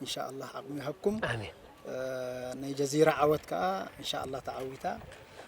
እንሻ ኣላህ ዓቕሚ ይሃብኩም ናይ ጀዚራ ዓወት ከዓ እንሻ ኣላህ ተዓዊታ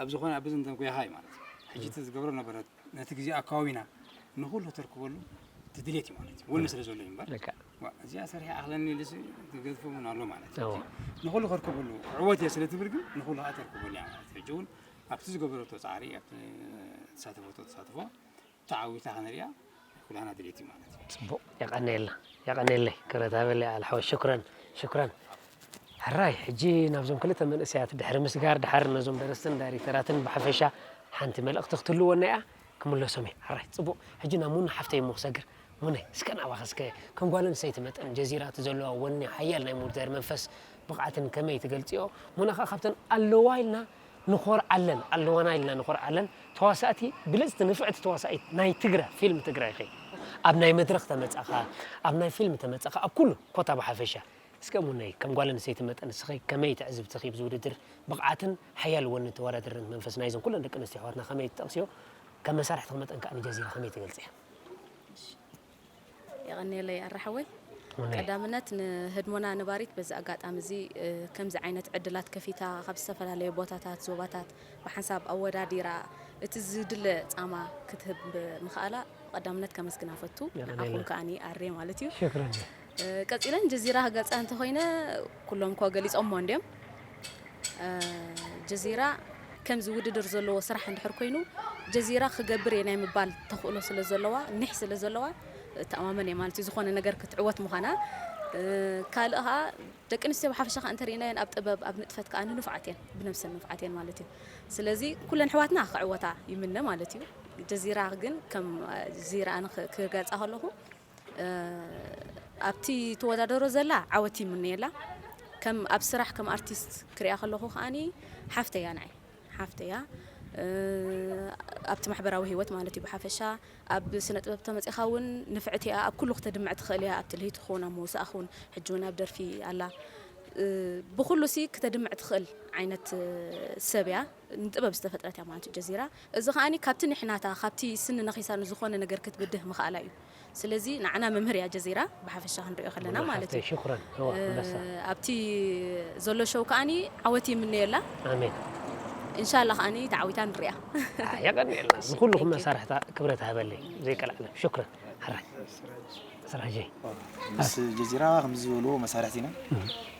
ኣብ ዝኾነ ኣብ ብዝንተን ኩያኻ እዩ ማለት እዩ ሕጂ እቲ ዝገብሮ ነበረ ነቲ ግዜ ኣካባቢና ንኹሉ ተርክበሉ እቲ ድሌት እዩ ማለት እዩ ወኒ ስለ ዘሎ እዩ እምበር ልክዕ ዋ፣ እዚኣ ሰሪሐ ኣኽለኒ ኢሉስ ዝገዝፎ እውን ኣሎ ማለት እዩ እዎ። ሕጂ ንኹሉ ከርክበሉ ክዕወት እየ ስለ ትብል ግን ንኹሉ ከዓ ተርክበሉ እያ ማለት እዩ ሕጂ እውን ኣብቲ ዝገበረቶ ፃዕሪ ኣብቲ ተሳተፈቶ ተሳትፎ ተዓዊታ ክንሪኣ ኩላህና ድሌት እዩ ማለት እዩ። ጽቡቅ የቀንየልና የቀንየለይ ክብረት ሃበለይ ኣልሓወይ ሽኩረን ሽኩረን። ሕራይ ሕጂ ናብዞም ክልተ መንእሰያት ድሕሪ ምስጋር ድሓር ነዞም ደረስትን ዳይሬክተራትን ብሓፈሻ ሓንቲ መልእክቲ ክትህልወና ኢያ ክምለሶም ኢየ ሕራይ ጽቡቅ ሕጂ ናብ ሙና ሓፍተይ እሞ ክሰግር ሙነይ እስከ ናባኺ እስከ ከም ጓል ኣንስተይቲ መጠን ጀዚራ እቲ ዘለዋ ወኒ ሓያል ናይ ምውዳድ መንፈስ ብቅዓትን ከመይ ትገልጽዮ ሙና ከኣ ካብተን ኣለዋ ኢልና ንኾርዓለን ኣለዋና ኢልና ንኾርዓለን ተዋሳእቲ ብልጽቲ ንፍዕቲ ተዋሳኢት ናይ ትግረ ፊልም ትግራይ ኢኺ ኣብ ናይ መድረኽ ተመጻኻ ኣብ ናይ ፊልም ተመጻኻ ኣብ ኩሉ ኮታ ብሓፈሻ እስከ እሙነይ ከም ጓል ኣንስተይቲ መጠን ንስኺ ከመይ ትዕዝብትኺ ብዚ ውድድር ብቕዓትን ሓያል ወንን ተወዳደርነት መንፈስ ናይዘን ኩለን ደቂ ኣንስትዮ ኣሕዋትና ከመይ ትጠቕስዮ ከም መሳርሕትኺ መጠን ከኣ ንጀዚራ ከመይ ትገልጽያ። እሺ የቐንየለይ ኣረ ሓወይ ቀዳምነት ንህድሞና ነባሪት በዚ ኣጋጣሚ እዚ ከምዚ ዓይነት ዕድላት ከፊታ ካብ ዝተፈላለዩ ቦታታት ዞባታት ብሓንሳብ ኣወዳዲራ እቲ ዝድለ ፃማ ክትህብ ምኽኣላ ብቀዳምነት ከመስግና ፈቱ ንዓኹም ከዓኒ ኣሬ ማለት እዩ ቀጺለን ጀዚራ ክገልጻ እንተኾይነ ኩሎም እኮ ገሊጾሞ እንድዮም ጀዚራ ከምዚ ውድድር ዘለዎ ስራሕ እንድሕር ኮይኑ ጀዚራ ክገብር እየ ናይ ምባል ተኽእሎ ስለ ዘለዋ ኒሕ ስለ ዘለዋ እተኣማመን እየ ማለት እዩ ዝኾነ ነገር ክትዕወት ምዃና ካልእ ከዓ ደቂ ኣንስትዮ ብሓፈሻ ከዓ እንተሪእናየን ኣብ ጥበብ ኣብ ንጥፈት ከዓ ንንፉዓት እየን ብነብሰን ንፉዓት እየን ማለት እዩ ስለዚ ኩለን ኣሕዋትና ክዕወታ ይምነ ማለት እዩ ጀዚራ ግን ከም ዚራ ክገልፃ ከለኹ ኣብቲ ትወዳደሮ ዘላ ዓወት ይምነየላ ከም ኣብ ስራሕ ከም ኣርቲስት ክሪኣ ከለኹ ከዓኒ ሓፍተይ እያ ንዓይ ሓፍተይ እያ ኣብቲ ማሕበራዊ ህይወት ማለት እዩ ብሓፈሻ ኣብ ስነ ጥበብ ተመፂኻ እውን ንፍዕቲ እያ ኣብ ኩሉ ክተድምዕ ትኽእል እያ ኣብ ትልሂት ኹን ኣብ መውሳእ ኹን ሕጂ እውን ኣብ ደርፊ ኣላ ብኩሉ ሲ ክተድምዕ ትኽእል ዓይነት ሰብ እያ ንጥበብ ዝተፈጥረት እያ ማለት እዩ ጀዚራ። እዚ ከኣ ካብቲ ንሕናታ ካብቲ ስኒ ነኺሳ ንዝኾነ ነገር ክትብድህ ምኽኣላ እዩ። ስለዚ ንዓና መምህር እያ ጀዚራ ብሓፈሻ ክንሪኦ ከለና ማለት እዩ። ኣብቲ ዘሎ ሸው ከኣ ዓወት ይምነየላ። እንሻላ ከኣ ተዓዊታ ንሪኣ። የቀንየልና ንኩሉኩም መሳርሕታ ክብረት ሃበለይ ዘይቀላዓለም ሽኩረን ሕራይ ስራጀይ። ምስ ጀዚራ ከምዚ ዝበልዎ መሳርሕቲና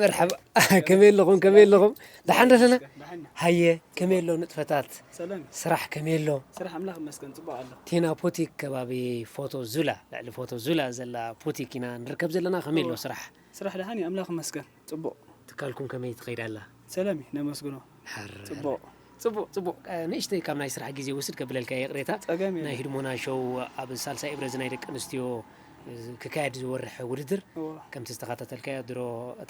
መርሓባ ከመይ ኣለኹም ከመይ ኣለኹም ደሓን ዶ ኣለና ሃየ ከመይ ኣሎ ንጥፈታት ስራሕ ከመይ ኣሎ ስራሕ ኣምላኽ ይመስገን ፅቡቅ ኣሎ ቴና ፑቲክ ከባቢ ፎቶ ዙላ ልዕሊ ፎቶ ዙላ ዘላ ፑቲክ ኢና ንርከብ ዘለና ከመይ ኣሎ ስራሕ ስራሕ ደሓን እዩ ኣምላኽ ይመስገን ፅቡቅ ትካልኩም ከመይ ትኸይድ ኣላ ሰለሚ ነመስግኖ ጽቡቅ ጽቡቅ ጽቡቅ ንእሽተይ ካብ ናይ ስራሕ ግዜ ውስድ ከብለልካ እየ ይቅሬታ ጸገም ናይ የለን ህድሞና ሾው ኣብ ሳልሳይ እብረ እዚ ናይ ደቂ ኣንስትዮ ክካየድ ዝወርሐ ውድድር እወ ከምቲ ዝተኸታተልካዮ ድሮ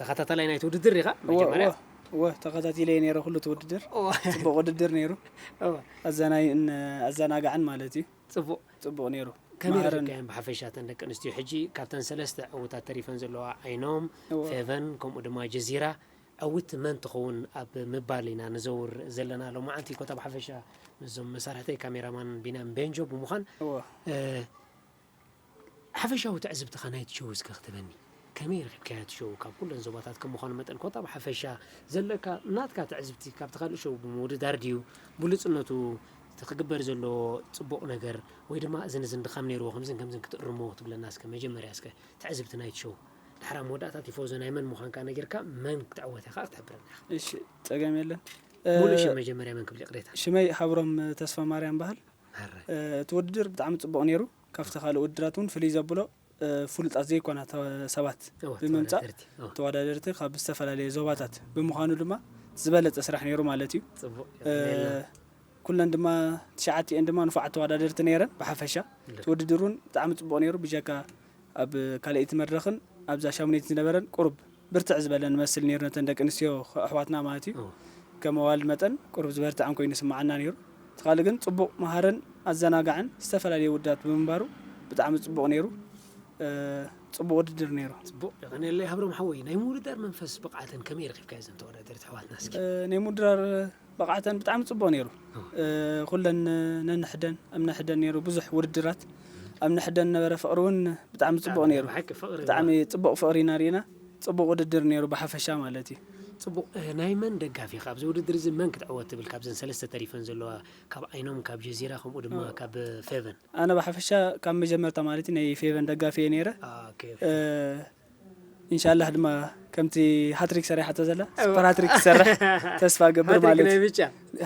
ተኸታታላይ ናይቲ ውድድር ኢኻ እወ እወ መጀመርያ እወ ተኸታቲለየ ነይረ ኩሉ እቲ ውድድር እወ ጽቡቅ ውድድር ነይሩ እወ ኣዘናይን ኣዘናጋዕን ማለት እዩ ጽቡቅ ጽቡቅ ነይሩ ከመይ መሃርን ረኺብካየን ብሓፈሻ እተን ደቂ ኣንስትዮ ሕጂ ካብተን ሰለስተ ዕዉታት ተሪፈን ዘለዋ ዓይኖም እወ ፌቨን ከምኡ ድማ ጀዚራ ዕውት መን ትኸውን ኣብ ምባል ኢና ንዘውር ዘለና ሎማዓንቲ ኮታ ብሓፈሻ ምስዞም መሳርሕተይ ካሜራ ማን ቢንያም ቤንጆ ብምዃን እወ ሓፈሻዊ ትዕዝብትኻ ናይቲ ሸው እስከ ክትበኒ ከመይ ረኺብካያ እቲ ሸው ካብ ኩለን ዞባታት ከም ምዃኑ መጠን ኮታ ብሓፈሻ ዘለካ ናትካ ትዕዝብቲ ካብቲ ካልእ ሸው ብምውድዳር ድዩ ብሉጽነቱ እቲ ክግበር ዘለዎ ጽቡቕ ነገር ወይ ድማ እዝን እዝን ድኻም ነይርዎ ከምዝን ከምዝን ክትእርሞ ክትብለና እስከ መጀመርያ እስከ ትዕዝብቲ ናይቲ ሸው ድሓር ኣብ መወዳእታ ቲፎዞ ናይ መን ምዃንካ ነጊርካ መን ክትዕወት ኢኻ ክትሕብረና ኢኻ። እሺ ጸገም የለን። ሙሉእ ሽም መጀመርያ መን ክብል ይቕሬታ። ሽመይ ሃብሮም ተስፋማርያም ይበሃል። ማራ። እቲ ውድድር ብጣዕሚ ጽቡቕ ኔሩ ካብቲ ካልእ ውድድራት ውን ፍልይ ዘብሎ ፍሉጣት ዘይኮና ሰባት እወ ብምምጻእ ተወዳደርቲ እወ ተወዳደርቲ ካብ ዝተፈላለየ ዞባታት ብምዃኑ ድማ ዝበለጸ ስራሕ ኔሩ ማለት እዩ። ጽቡቕ የቐንየልና። ኩለን ድማ ትሽዓቲኤን ድማ ንፉዓት ተወዳደርቲ ኔረን ብሓፈሻ እቲ ውድድር ውን ብጣዕሚ ጽቡቕ ኔሩ ብጀካ ኣብ ካልኣይቲ መድረኽን ኣብዛ ሻሙነይትን ዝነበረን ቁሩብ ብርትዕ ዝበለ ንመስል ነይሩ ነተን ደቂ ኣንስትዮ ኣሕዋትና ማለት እዩ ከም ኣዋልድ መጠን ቁሩብ ዝበርትዐን ኮይኑ ይስመዓና ነይሩ እቲ ካልእ ግን ጽቡቕ መሃርን ኣዘናጋዕን ዝተፈላለየ ውድዳት ብምንባሩ ብጣዕሚ ጽቡቕ ነይሩ ጽቡቕ ውድድር ነይሩ። ጽቡቕ የቐንየለይ ሃብሮም ሓወይ። ናይ ምውድዳር መንፈስ ብቕዓተን ከመይ ረኺብካዮ እዘን ተወዳደርቲ ኣሕዋትና እስኪ? ናይ ምውድዳር ብቕዓተን ብጣዕሚ ጽቡቕ ነይሩ። ኩለን ነንሕደን ኣብ ነሕደን ነይሩ ብዙሕ ውድድራት። ኣብ ነሕደን ዝነበረ ፍቕሪ እውን ብጣዕሚ ጽቡቕ ነይሩ። ብጣዕሚ ጽቡቕ ፍቕሪ ኢና ርኢና። ጽቡቕ ውድድር ነይሩ ብሓፈሻ ማለት እዩ። ጽቡቕ። ናይ መን ደጋፊ ኢኻ? ኣብዚ ውድድር እዚ መን ክትዕወት ትብል ካብዘን ሰለስተ ተሪፈን ዘለዋ ካብ ዓይኖም፣ ካብ ጀዚራ ከምኡ ድማ ካብ ፌቨን? ኣነ ብሓፈሻ ካብ መጀመርታ ማለት እዩ ናይ ፌቨን ደጋፊ እየ ነይረ። ኢንሻላህ ድማ ከምቲ ሃትሪክ ሰሪሓቶ ዘላ ሱፐር ሃትሪክ ክሰርሕ ተስፋ ገብር ማለት ናይ ብጫ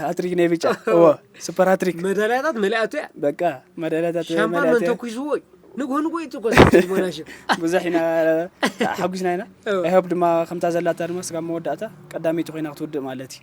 ሃትሪክ ናይ ብጫ እዎ ሱፐር ሃትሪክ መዳልያታት መሊኣቶ እያ በቃ መዳልያታት ሻምፓን መን ተኩስዎ እዩ ንግሆ ንግሆ እዩ ትኮስ ቦናሽ ብዙሕ ኢና ሓጒስና ኢና ኣይሆብ ድማ ከምታ ዘላታ ድማ ስጋብ መወዳእታ ቀዳመይቲ ኮይና ክትውድእ ማለት እዩ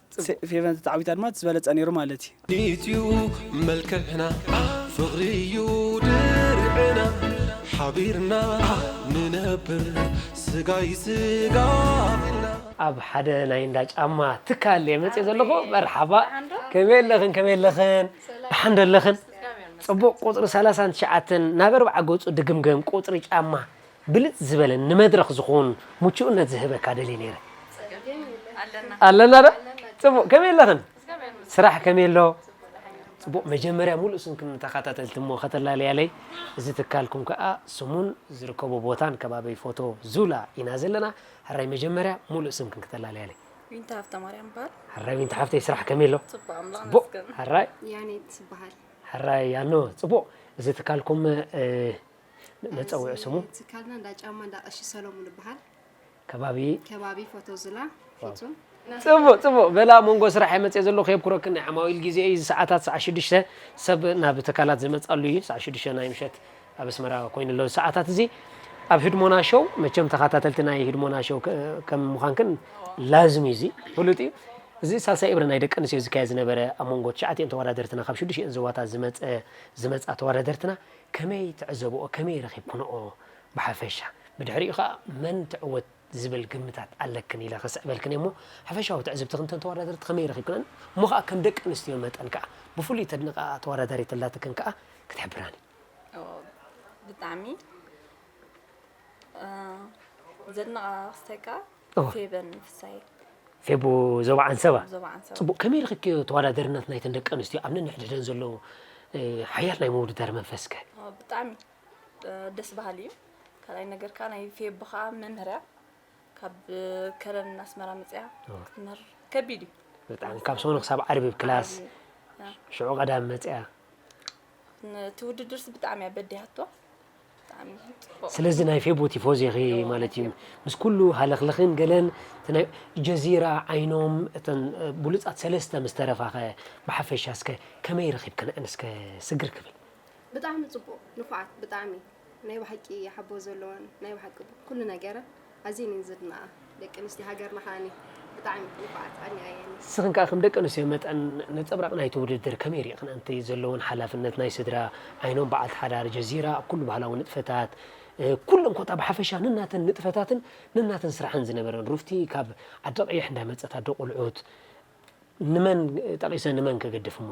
ጽብቅ ፌቨን ተተዓዊታ ድማ እቲ ዝበለጸ ነይሩ ማለት እዩ። ኢትዩ መልክዕና ፍቅሪ እዩ ድርዕና ሓቢርና ንነብር ስጋይ ስጋ ቢልና። ኣብ ሓደ ናይ እንዳ ጫማ ትካል እየ መጽየ ዘለኹ መርሓባ ከመይ ኣለኽን ከመይ ኣለኽን ደሓን ዶ ኣለኽን ጽቡቕ ቁጽሪ ሰላሳን ትሽዓተን ናብ ኣርብዓ ገጹ ድግምገም ቁጽሪ ጫማ ብልጽ ዝበለን ንመድረኽ ዝኹን ሙቹኡነት ዝህበካ ደልየ ነይረ። ኣለና ዶ ጽቡቅ ከመይ ኣለኽን ስራሕ ከመይ ኣሎ ጽቡቅ መጀመርያ ሙሉእ ስምክን ንተኻታተልቲ እሞ ከተላለያለይ እዚ ትካልኩም ከኣ ስሙን ዝርከቦ ቦታን ከባቢ ፎቶ ዙላ ኢና ዘለና ሕራይ መጀመርያ ሙሉእ ስምክን ከተላለያለይ ዊንታ ሃብተማርያም በሃል ሕራይ ዊንታ ሓፍተይ ስራሕ ከመይ ኣሎ ጽቡቅ ኣምላኽ ጽቡቅ መስገን ሕራይ ያኔት በሃል ሕራይ ያኖ ጽቡቅ እዚ ትካልኩም መፀውዒ ስሙ እዚ ትካልና እንዳ ጫማ እንዳ ቀሺ ሰለሙን ይበሃል። ከባቢ ከባቢ ፎቶ ዙላ ፊቱ ጽቡቅ ጽቡቅ በላ መንጎ ስራሐይ መጽየ ዘለኹ የብኩረክን ናይ ዓማዊል ግዜ እዩ እዚ ሰዓታት ሰዓት ሽዱሽተ ሰብ ናብ ትካላት ዝመጻሉ እዩ ሰዓት ሽዱሽተ ናይ ምሸት ኣብ ኣስመራ ኮይኑ ኣሎ ሰዓታት እዚ ኣብ ህድሞና ሾው መቸም ተኸታተልቲ ናይ ህድሞና ሾው ከም ምዃንክን ላዝም እዩ እዚ ፍሉጥ እዩ እዚ ሳልሳይ እብረ ናይ ደቂ ኣንስትዮ ዝካየድ ዝነበረ ኣብ መንጎ ትሽዓቲኦን ተወዳደርትና ካብ ሽዱሽቲኦን ዞባታት ዝመፀ ዝመፃ ተወዳደርትና ከመይ ትዕዘብኦ ከመይ ረኺብክንኦ ብሓፈሻ ብድሕሪኡ ከኣ መን ትዕወት ዝብል ግምታት ኣለክን ኢለ ክስዕበልክን እየ እሞ ሓፈሻዊ ትዕዝብትኺ እተን ተወዳደርቲ ከመይ ረኺብክነን እሞ ከኣ ከም ደቂ ኣንስትዮ መጠን ከኣ ብፍሉይ ተድንቕኣ ተወዳዳሪት ኣላትክን ከኣ ክትሕብራኒ። ብጣዕሚ ዘናቃቅስተካ ፌበን ፍሳይ ፌቡ ዞባ ዓንሰባ ዞባ ዓንሰባ ጽቡቅ ከመይ ርክኪ ተወዳደርነት ናይተን ደቂ ኣንስትዮ ኣብ ነንሕድሕደን ዘሎ ሓያል ናይ ምውድዳር መንፈስከ ብጣዕሚ ደስ በሃሊ እዩ ካልኣይ ነገር ከዓ ናይ ፌቡ ከዓ መምህርያ ካብ ከረን ኣስመራ መፅያ ክትምህር ከቢድ እዩ ብጣዕሚ ካብ ሰኑ ክሳብ ዓርቢ ክላስ ሽዑ ቀዳም መፅያ እቲ ውድድርስ ብጣዕሚ እያ በዲሃቶ ስለዚ ናይ ፌቦ ቲፎዚ ኢኺ ማለት እዩ ምስ ኩሉ ሃለኽልኽን ገለን እቲ ናይ ጀዚራ ዓይኖም እተን ብሉጻት ሰለስተ ምስ ተረፋኸ ብሓፈሻ እስከ ከመይ ረኺብክነን እስከ ስግር ክብል ብጣዕሚ ጽቡቅ ንፉዓት ብጣዕሚ ናይ ብሓቂ ሓቦ ዘለወን ናይ ብሓቂ ኩሉ ነገረን ኣዝየን እየን ዝድነቃ ደቂ ኣንስትዮ ሃገርና ከኣ ብጣዕሚ ንፉዓት ቀንየን እየን። ንስኽን ከኣ ከም ደቂ ኣንስትዮ መጠን ነጸብራቕ ናይቲ ውድድር ከመይ ሪእኽን ኣንቲ ዘለወን ሓላፍነት ናይ ስድራ ኣይኖም በዓልቲ ሓዳር ጀዚራ ኣብ ኩሉ ባህላዊ ንጥፈታት ኩለን ኮታ ብሓፈሻ ነናተን ንጥፈታትን ነናተን ስራሕን ዝነበረን ሩፍቲ ካብ ዓዲ ቀይሕ እንዳመጸት ኣዶ ቆልዑት ንመን ጠቒሰ ንመን ክግድፍ እሞ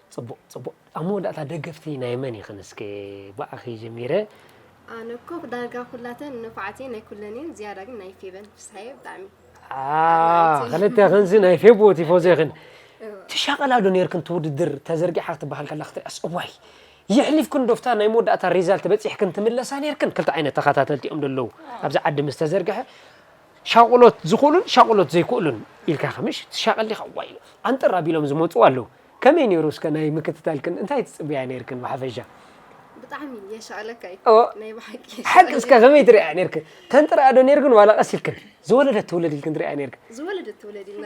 ጽቡቅ ጽቡቅ ኣብ መወዳእታ ደገፍቲ ናይ መን ይኽን እስከ ብኣኺ ጀሚረ። ኣነ እኮ ዳርጋ ኩላተን ንፉዓት እየን ናይ ኩለን እየን ዝያዳ ግን ናይ ፌበን ፍስሃየ ብጣዕሚ ኣኣ ክልተ ክንዚ ናይ ፌቦ ቲፎዘ ክን ትሻቐላ ዶ ነርክን ትውድድር ተዘርጊሓ ክትበሃል ከላ ክትሪኣስ እዋይ የሕሊፍክን ዶፍታ ናይ መወዳእታ ሪዛልት በጺሕክን ትምለሳ ነርክን ክልተ ዓይነት ተኸታተልቲ እዮም ደለዉ ኣብዚ ዓዲ ምስ ተዘርግሐ ሻቑሎት ዝኽእሉን ሻቑሎት ዘይክእሉን ኢልካ ከምሽ ትሻቐል ዲኻ ዋይ ኣንጥር ኣቢሎም ዝመጹ ኣለዉ ከመይ ኔሩ እስከ ናይ ምክትታልክን እንታይ ትጽብያ ኔርክን ብሓፈሻ? ብጣዕሚ የሻኣለካ እዩ ኦ ናይ ብሓቂ ሓቂ የሻኣለካ። እስከ ከመይ ትርእያ ኔርክን ተንጥርኣ ዶ ኔርክን ዋላ ቀስ ኢልክን ዝወለደት ትውለድ ኢልክን ትርእያ ኔርክን? ዝወለደት ትውለድ ኢልና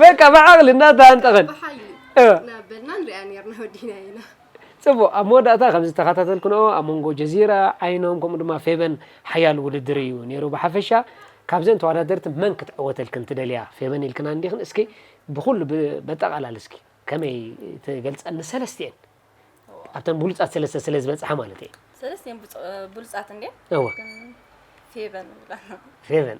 በቃ ብዓቕሊ እናተሃንጠኸን ብሓይሊ እ እናበልና ንሪኣ ኔርና ወዲእናዮ ኢና። ጽቡቕ፣ ኣብ መወዳእታ ከም ዝተኸታተልክንኦ ኣብ መንጎ ጀዚራ፣ ዓይኖም ከምኡ ድማ ፌበን ሓያል ውድድር እዩ ኔሩ ብሓፈሻ ካብዘን ተዋዳደርቲ መን ክትዕወተልክን ትደልያ ፌበን ኢልክና እንዲኽን እስኪ ብኹሉ በጠቓላሊ እስኪ ከመይ ትገልጸን ንሰለስቲኤን ኣብተን ብሉጻት ሰለስተ ስለ ዝበጽሓ ማለት እየ ሰለስቲኤን ብሉጻት እንዴ እወ ፌበን ፌበን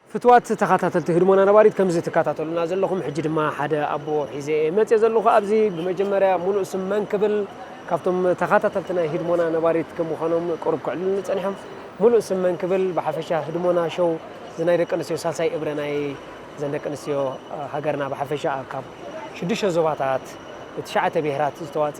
ፍትዋት ተኻታተልቲ ህድሞና ነባሪት ከምዚ ትካታተሉና ዘለኹም ሕጂ ድማ ሓደ ኣቦ ሒዘ እየ መጼ ዘለኹ ኣብዚ ብመጀመርያ ሙሉእ ስም መን ክብል ካብቶም ተኻታተልቲ ናይ ህድሞና ነባሪት ከምዃኖም ቁሩብ ክዕልሉኒ ጸኒሖም ሙሉእ ስም መን ክብል ብሓፈሻ ህድሞና ሾው እዚ ናይ ደቂ ኣንስትዮ ሳልሳይ እብረ ናይ ዘን ደቂ ኣንስትዮ ሃገርና ብሓፈሻ ካብ ሽዱሽተ ዞባታት ትሽዓተ ብሄራት ዝተዋጸ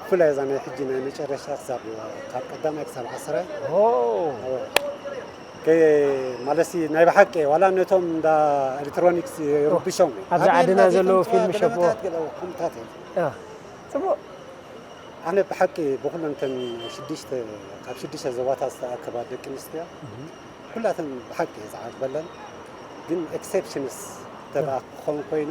ብፍላይ እዛ ናይ ሕጂ ናይ መጨረሻ ክሳብ ካብ ቀዳማይ ክሳብ ዓስራይ ማለሲ ናይ ብሓቂ ዋላ ነቶም እንዳ ኤሌክትሮኒክስ ይርብሾም ኣብዚ ዓድና ዘለዎ ፊልም ሸቦ ከምታት እዩ ፅቡቅ ኣነ ብሓቂ ብኩለን ተን ሽዱሽተ ካብ ሽዱሽተ ዞባታት ዝተኣከባ ደቂ ኣንስትዮ ኩላተን ብሓቂ ዝዓግበለን ግን ኤክሴፕሽንስ ተብኣ ክኸውን ኮይኑ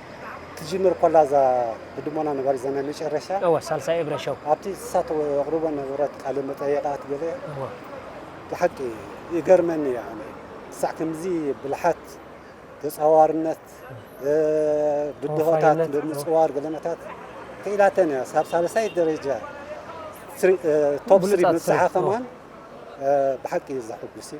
ክትጅምር ኮላ እዛ ህድሞና ነባሪት እዛ ናይ መጨረሻ እወ ሳልሳይ እብረ ሸው ኣብቲ ንሳ ተቕርቦ ነበረት ቃለ መጠየቓት ገለ እወ ብሓቂ ይገርመኒ እዩ ኣነ ክሳዕ ከምዚ ብልሓት ተጻዋርነት ብድሆታት ወፋይነት፣ እወ። ብምጽዋር ገለመታት ክኢላተን እያ ሳብ ሳልሳይ ደረጃ ስሪ ቶፕ ስሪ ብሉጻት ምብጽሓ ሰብ፣ እወ። ከማን ብሓቂ እዩ ዘሕጉስ እዩ።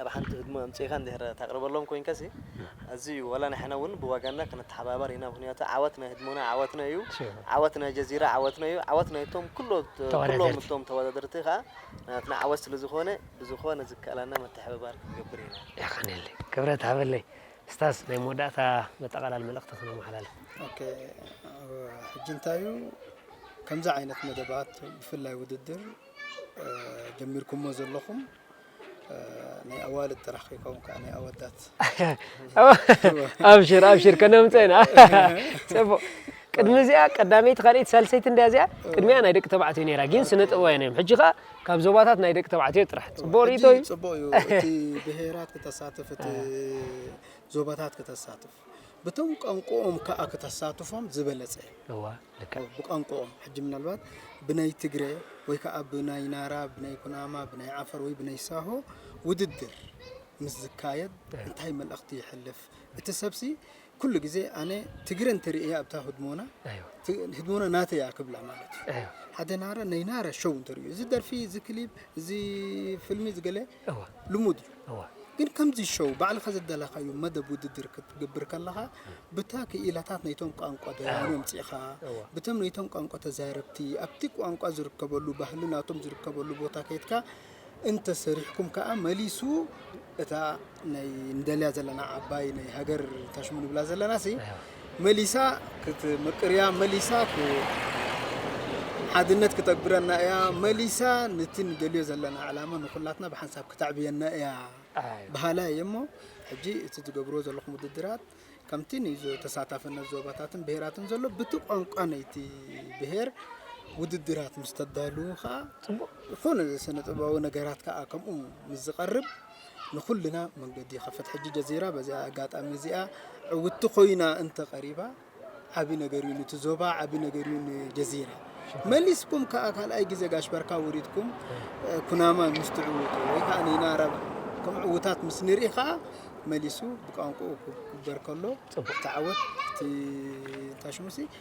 ኣብ ሓንቲ ህድሞ ኣምጺእካ እንድሕር ተቕርበሎም ኮይንካሲ ኣዝዩ ዋላ ንሕና እውን ብዋጋና ክንተሓባበር ኢና ምኽንያቱ ዓወት ናይ ህድሞና ዓወትና እዩ ዓወት ናይ ጀዚራ ዓወትና እዩ ዓወት ናይቶም ኩሎም እቶም ተወዳደርቲ ከኣ ናትና ዓወት ስለ ዝኾነ ብዝኾነ ዝከኣላና ምትሕብባር ክንገብር ኢና። የቐኔለይ ክብረት ሃበለይ። ስታዝ ናይ መወዳእታ መጠቓላሊ መልእኽቲ ክነመሓላልፍ። ኦኬ ሕጂ እንታይ እዩ ከምዚ ዓይነት መደባት ብፍላይ ውድድር ጀሚርኩሞ ዘለኹም ናይ ኣዋልድ ጥራሕ ከይከውን ከዓ ናይ ኣወዳት ኣብሽር ኣብሽር ከነምፀ ኢና ፅቡቅ ቅድሚ እዚኣ ቀዳመይቲ ካልኣይቲ ሳልሰይቲ እንዳ እዚኣ ቅድሚኣ ናይ ደቂ ተባዕትዮ ነይራ ግን ስነ ጥበባውያን እዮም ሕጂ ከዓ ካብ ዞባታት ናይ ደቂ ተባዕትዮ ጥራሕ ፅቡቅ ርእቶ እዩ ፅቡቅ እዩ እቲ ብሄራት ክተሳትፍ እቲ ዞባታት ክተሳትፍ ብቶም ቋንቁኦም ካኣ ክተሳትፎም ዝበለጸ እዩ። እወ ልክዕ። ብቋንቁኦም ሕጂ ምናልባት ብናይ ትግረ ወይ ካኣ ብናይ ናራ ብናይ ኩናማ ብናይ ዓፈር ወይ ብናይ ሳሆ ውድድር ምስ ዝካየድ እንታይ መልእኽቲ የሕልፍ እቲ ሰብሲ ኩሉ ግዜ ኣነ ትግረ እንተ ርእየ ኣብታ ህድሞና ህድሞና ናተይ እያ ክብላ ማለት እዩ ሓደ ናራ ናይ ናራ ሾው እንተ ርእዩ እዚ ደርፊ እዚ ክሊብ እዚ ፍልሚ እዚ ገለ እወ። ልሙድ እዩ። እወ። ግን ከምዚ ሸው ባዕልኻ ዝደለኻዮ መደብ ውድድር ክትግብር ከለኻ ብታ ክኢላታት ነይቶም ቋንቋ ደያኑ ኣምጺእኻ እወ። ብቶም ነይቶም ቋንቋ ተዛረብቲ ኣብቲ ቋንቋ ዝርከበሉ ባህሊ ናቶም ዝርከበሉ ቦታ ከይድካ እንተ ሰሪሕኩም ከኣ መሊሱ እታ ናይ ንደልያ ዘለና ዓባይ ናይ ሃገር ታሽሙ ንብላ ዘለናሲ መሊሳ ክትምቅርያ መሊሳ ሓድነት ክተግብረና እያ መሊሳ ንቲ ንደልዮ ዘለና ዕላማ ንኩላትና ብሓንሳብ ክተዕብየና እያ በሃላይ እየ እሞ ሕጂ እቲ ዝገብርዎ ዘለኹም ውድድራት ከምቲ ንተሳታፍነት ዞባታትን ብሄራትን ዘሎ ብቲ ቋንቋ ናይቲ ብሄር ውድድራት ምስ ተዳልዉ ከዓ ፅቡቅ ዝኾነ ስነ ጥበባዊ ነገራት ከዓ ከምኡ ምስ ዝቀርብ ንኹልና መንገዲ ይኸፍት። ሕጂ ጀዚራ በዚኣ ኣጋጣሚ እዚኣ ዕውቲ ኮይና እንተ ቀሪባ ዓቢ ነገር እዩ ንቲ ዞባ ዓቢ ነገር እዩ ንጀዚራ መሊስኩም ከኣ ካልኣይ ግዜ ጋሽ በርካ ወሪድኩም ኩናማ ምስ ትዕውቱ ወይ ከኣ ንናራ ከም ዕውታት ምስ ንርኢ ከኣ መሊሱ ብቋንቋኡ ክግበር ከሎ ተዓወት እቲ እንታሽሙሲ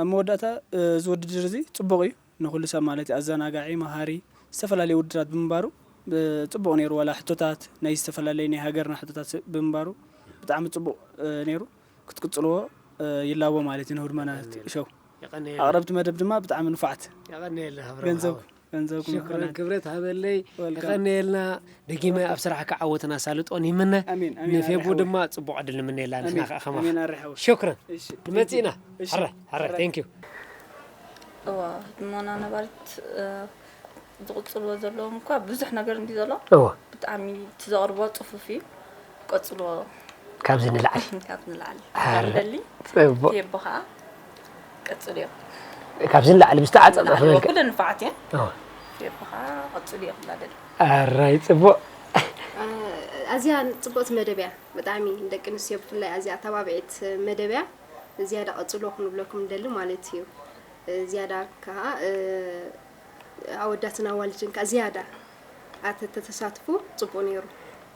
ኣብ መወዳእታ እዚ ውድድር እዚ ጽቡቕ እዩ ንኹሉ ሰብ ማለት ኣዘናጋዒ መሃሪ ዝተፈላለየ ውድድራት ብምንባሩ ጽቡቕ ነይሩ ዋላ ሕቶታት ናይ ዝተፈላለየ ናይ ሃገርና ሕቶታት ብምንባሩ ብጣዕሚ ጽቡቕ ነይሩ ክትቅጽልዎ ይላቦ ማለት እዩ ንሁድመና ሾው ኣቕረብቲ መደብ ድማ ብጣዕሚ ንፉዓት ገንዘብኩም ገንዘብኩም ሽኮር ይኹነል። ክብረት ሃበለይ Welcome. የቐንየልና ደጊመ ኣብ ስራሕካ ዓወትን ኣሳልጦን ይምነ ኣሜን፣ ኣሜን፣ ንፌቡ ኣርሓዊ። ድማ ፅቡቕ ዕድል ንምነየላ ንሕና ኣሜን፣ ከዓ ከማኻ ኣሜን፣ ኣርሓዊ። ሽክረን እሺ፣ ንመፅእ ኢና እሺ፣ ሕረ ሕረ ሕረ። ቴንክ ዩ እዋ ህድሞና ነባሪት እ፣ ዝቕፅልዎ ዘለዎም እኳ ብዙሕ ነገር እንዲ ዘሎ እዎ ብጣዕሚ እቲ ዘቕርቦ ፅፉፍ እዩ ቀጽሎ ካብዚ ንላዕሊ ካብ ንላዕሊ ኣረ፣ ንደሊ ጽቡቅ የቦ ከዓ ቀጽልዮ ካብዚ ንላዕሊ ብዝተዓጸጸ ንላዕሊ ክብል ኩለን ንፋዓት እየን ኦ፣ የቦ ከዓ ቀጽልዮ ክብላ ደሊ ኣራይ ጽቡቅ ኣዝያ ጽብቕቲ መደብ እያ ብጣዕሚ ንደቂ ኣንስትዮ ብፍላይ ኣዝያ ኣተባብዒት መደብ እያ ዝያዳ ቀጽሎ ክንብለኩም ንደሊ ማለት እዩ እ፣ ዝያዳ ከዓ እ፣ ኣወዳትን ኣዋልድን ከዓ ዝያዳ ኣተተተሳትፉ ጽቡቕ ነይሩ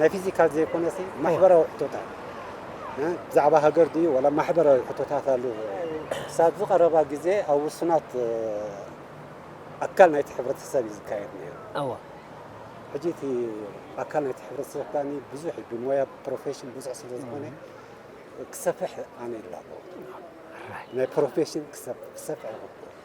ናይ ፊዚካል ዘይኮነሲ ማሕበራዊ ሕቶታት ብዛዕባ ሃገር ድዩ ዋላ ማሕበራዊ ሕቶታት ኣሉ ክሳብዚ ቀረባ ግዜ ኣብ ውሱናት ኣካል ናይቲ ሕብረተሰብ እዩ ዝካየድ ነይሩ። እወ ሕጂ እቲ ኣካል ናይቲ ሕብረተሰብ ከኣ ብዙሕ እዩ ብሞያ ብፕሮፌሽን ብዙሕ ስለ ዝኾነ ክሰፍሕ ኣነ ይላቦ ናይ ፕሮፌሽን ክሰፍሕ ይግብኦ።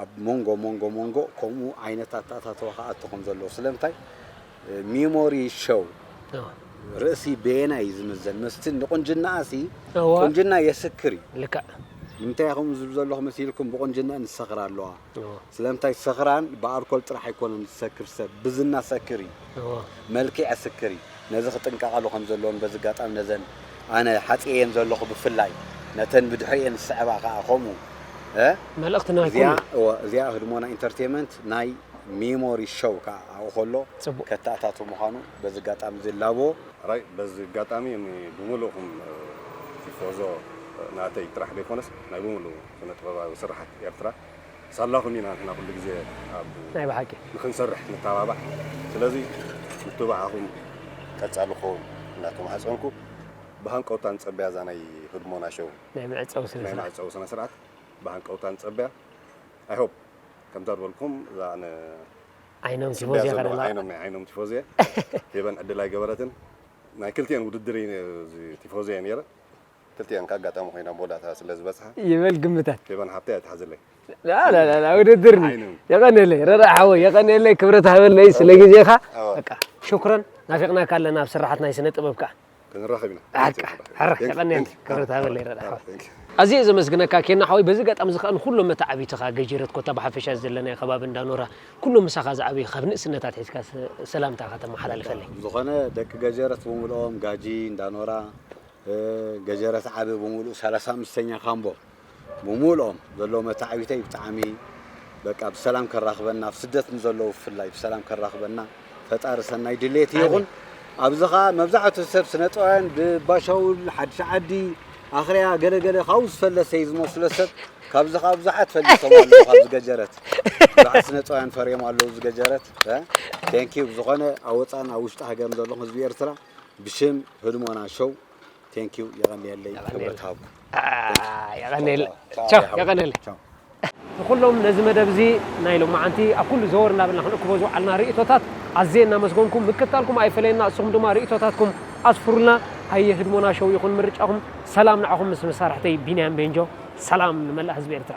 ኣብ ሞንጎ ሞንጎ ሞንጎ ከምኡ ዓይነት ኣተኣታትዋ ክኣቱ ከም ዘለዎ ስለምንታይ ሚሞሪ ሸው ርእሲ በየናይ እዩ ዝምዘን መስቲ ንቁንጅናኣ ሲ እወ ቁንጅና የስክር እዩ ልክዕ ንምንታይ እየ ከምኡ ዝብል ዘለኹ መሲልኩም ብቁንጅንአን ዝሰኽራ ኣለዋ እወ ስለምንታይ ሰኽራን ብኣልኮል ጥራሕ ኣይኮነን ዝሰክር ሰብ ብዝና ሰክር እዩ እወ መልኪዕ ስክር እዩ ነዚ ክጥንቀቓሉ ከም ዘለወን በዚ ኣጋጣሚ ነዘን ኣነ ሓጺኤየን ዘለኹ ብፍላይ ነተን ብድሕሪኤን ዝስዕባ ከኣ ከምኡ መልእኽቲ ናይ ኩሉ እዚኣ እወ እዚኣ ህድሞና ኢንተርቴመንት ናይ ሚሞሪ ሸው ከኣ ኣብኡ ከሎ ጽቡቅ። ከተኣታቱ ምዃኑ በዚ ኣጋጣሚ እዚ እላቦ። ሕራይ በዚ ኣጋጣሚ እኒ ብምልእኹም ቲፎዞ ናተይ ጥራሕ ዘይኮነስ ናይ ብምሉኡ ስነ ጥበባዊ ስርሓት ኤርትራ ሳላኹም ኢና ንሕና ኩሉ ግዜ ኣብ ናይ ብሓቂ ንኽንሰርሕ ንተባባዕ ስለዚ ምትብባዓኹም ቀጻሊ ክኸውን እናተማሕጸንኩ ብሃንቀውታ ንጸበያ እዛ ናይ ህድሞና ሸው ናይ መዕጸዊ ስነ ናይ ስርዓት መዕጸዊ ስነ ስርዓት ብሃንቀውታ ንጸበያ ኣይ ሆፕ ከምታ ዝበልኩም እዛ ኣነ ዓይኖም ስቢያ ቲፎዜ ዘለዋ ከለዋ ዓይኖም ናይ ዓይኖም ቲፎዜ ሄበን ዕድል ኣይገበረትን ናይ ክልቲኤን ውድድር እዩ እዚ ቲፎዜ እየ ነይረ ክልቲኤን ከኣ ኣጋጣሚ ኮይና ብወዳእታ ስለ ዝበጽሓ። ይበል ግምታት። ፌቨን ሓብተይ ኣይትሓዝለይ። ላላላ ውድድር እዩ። የቐንየለይ ረዳኢ ሓወይ የቐንየለይ ክብረት ሃበለይ ስለ ግዜኻ። በቃ ሽኩረን ናፊቕናካ ኣለና ኣብ ስርሓት ናይ ስነ ጥበብ ከኣ። ክንራኸብ ኢና። በቃ ሕራይ የቐንየለይ ክብረት ሃበለይ ረዳኢ ሓወይ። ኣዝየ እየ ዘመስግነካ ኬና ሓወይ በዚ ኣጋጣሚ እዚ ከኣ ንኹሎም መተዓብይትኻ ገጂረት ኮታ ብሓፈሻ እዚ ዘለናዮ ከባቢ እንዳ ኖራ ኩሎም ምሳኻ ዝዓበዩ ካብ ንእስነት ኣትሒዝካ ሰላምታኻ ተመሓላልፈለይ። ብዝኾነ ደቂ ገጀረት ብምልኦም ጋጂ፣ እንዳ ኖራ፣ ገጀረት ዓቢ ብምሉኡ ሰላሳ ኣምስተኛ ካምቦ ብምሉኦም ዘለዎ መታዕቢተይ ብጣዕሚ በቃ ብሰላም ከራኽበና ኣብ ስደት ንዘለዉ ብፍላይ ብሰላም ከራኽበና ፈጣሪ ሰናይ ድሌት ይኹን። ኣብዚ ከዓ መብዛሕቱ ሰብ ስነ ጥበባውያን ብባሻውል ሓድሽ ዓዲ ኣኽርያ ገለገለ ካብኡ ዝፈለሰ እዩ ዝመስሎ ሰብ ካብዚ ከዓ ብዙሓት ፈሊሶም ኣለዉ ካብዚ ገጀረት ብዙሓት ስነ ጥበባውያን ፈርዮም ኣለዉ እዚ ገጀረት ቴንኪዩ ብዝኾነ ኣብ ወፃእን ኣብ ውሽጢ ሃገርን ዘለኹም ህዝቢ ኤርትራ ብሽም ህድሞና ሾው ቴንክ ዩ የቐንየለይ ክብረት ሃብኩ የቐንየለይ ንኩሎም ነዚ መደብ እዚ ናይ ሎማዓንቲ ኣብ ኩሉ ዘወር እናበልና ክንእክቦ ዝወዓልና ርእቶታት ኣዝየ እናመስገንኩ ምክትታልኩም ኣይፈለየና እስኹም ድማ ርእቶታትኩም ኣስፍሩልና ሃየ ህድሞና ሾው ይኹን ምርጫኹም ሰላም ንዓኹም ምስ መሳርሕተይ ቢንያም ቤንጆ ሰላም ንመላእ ህዝቢ ኤርትራ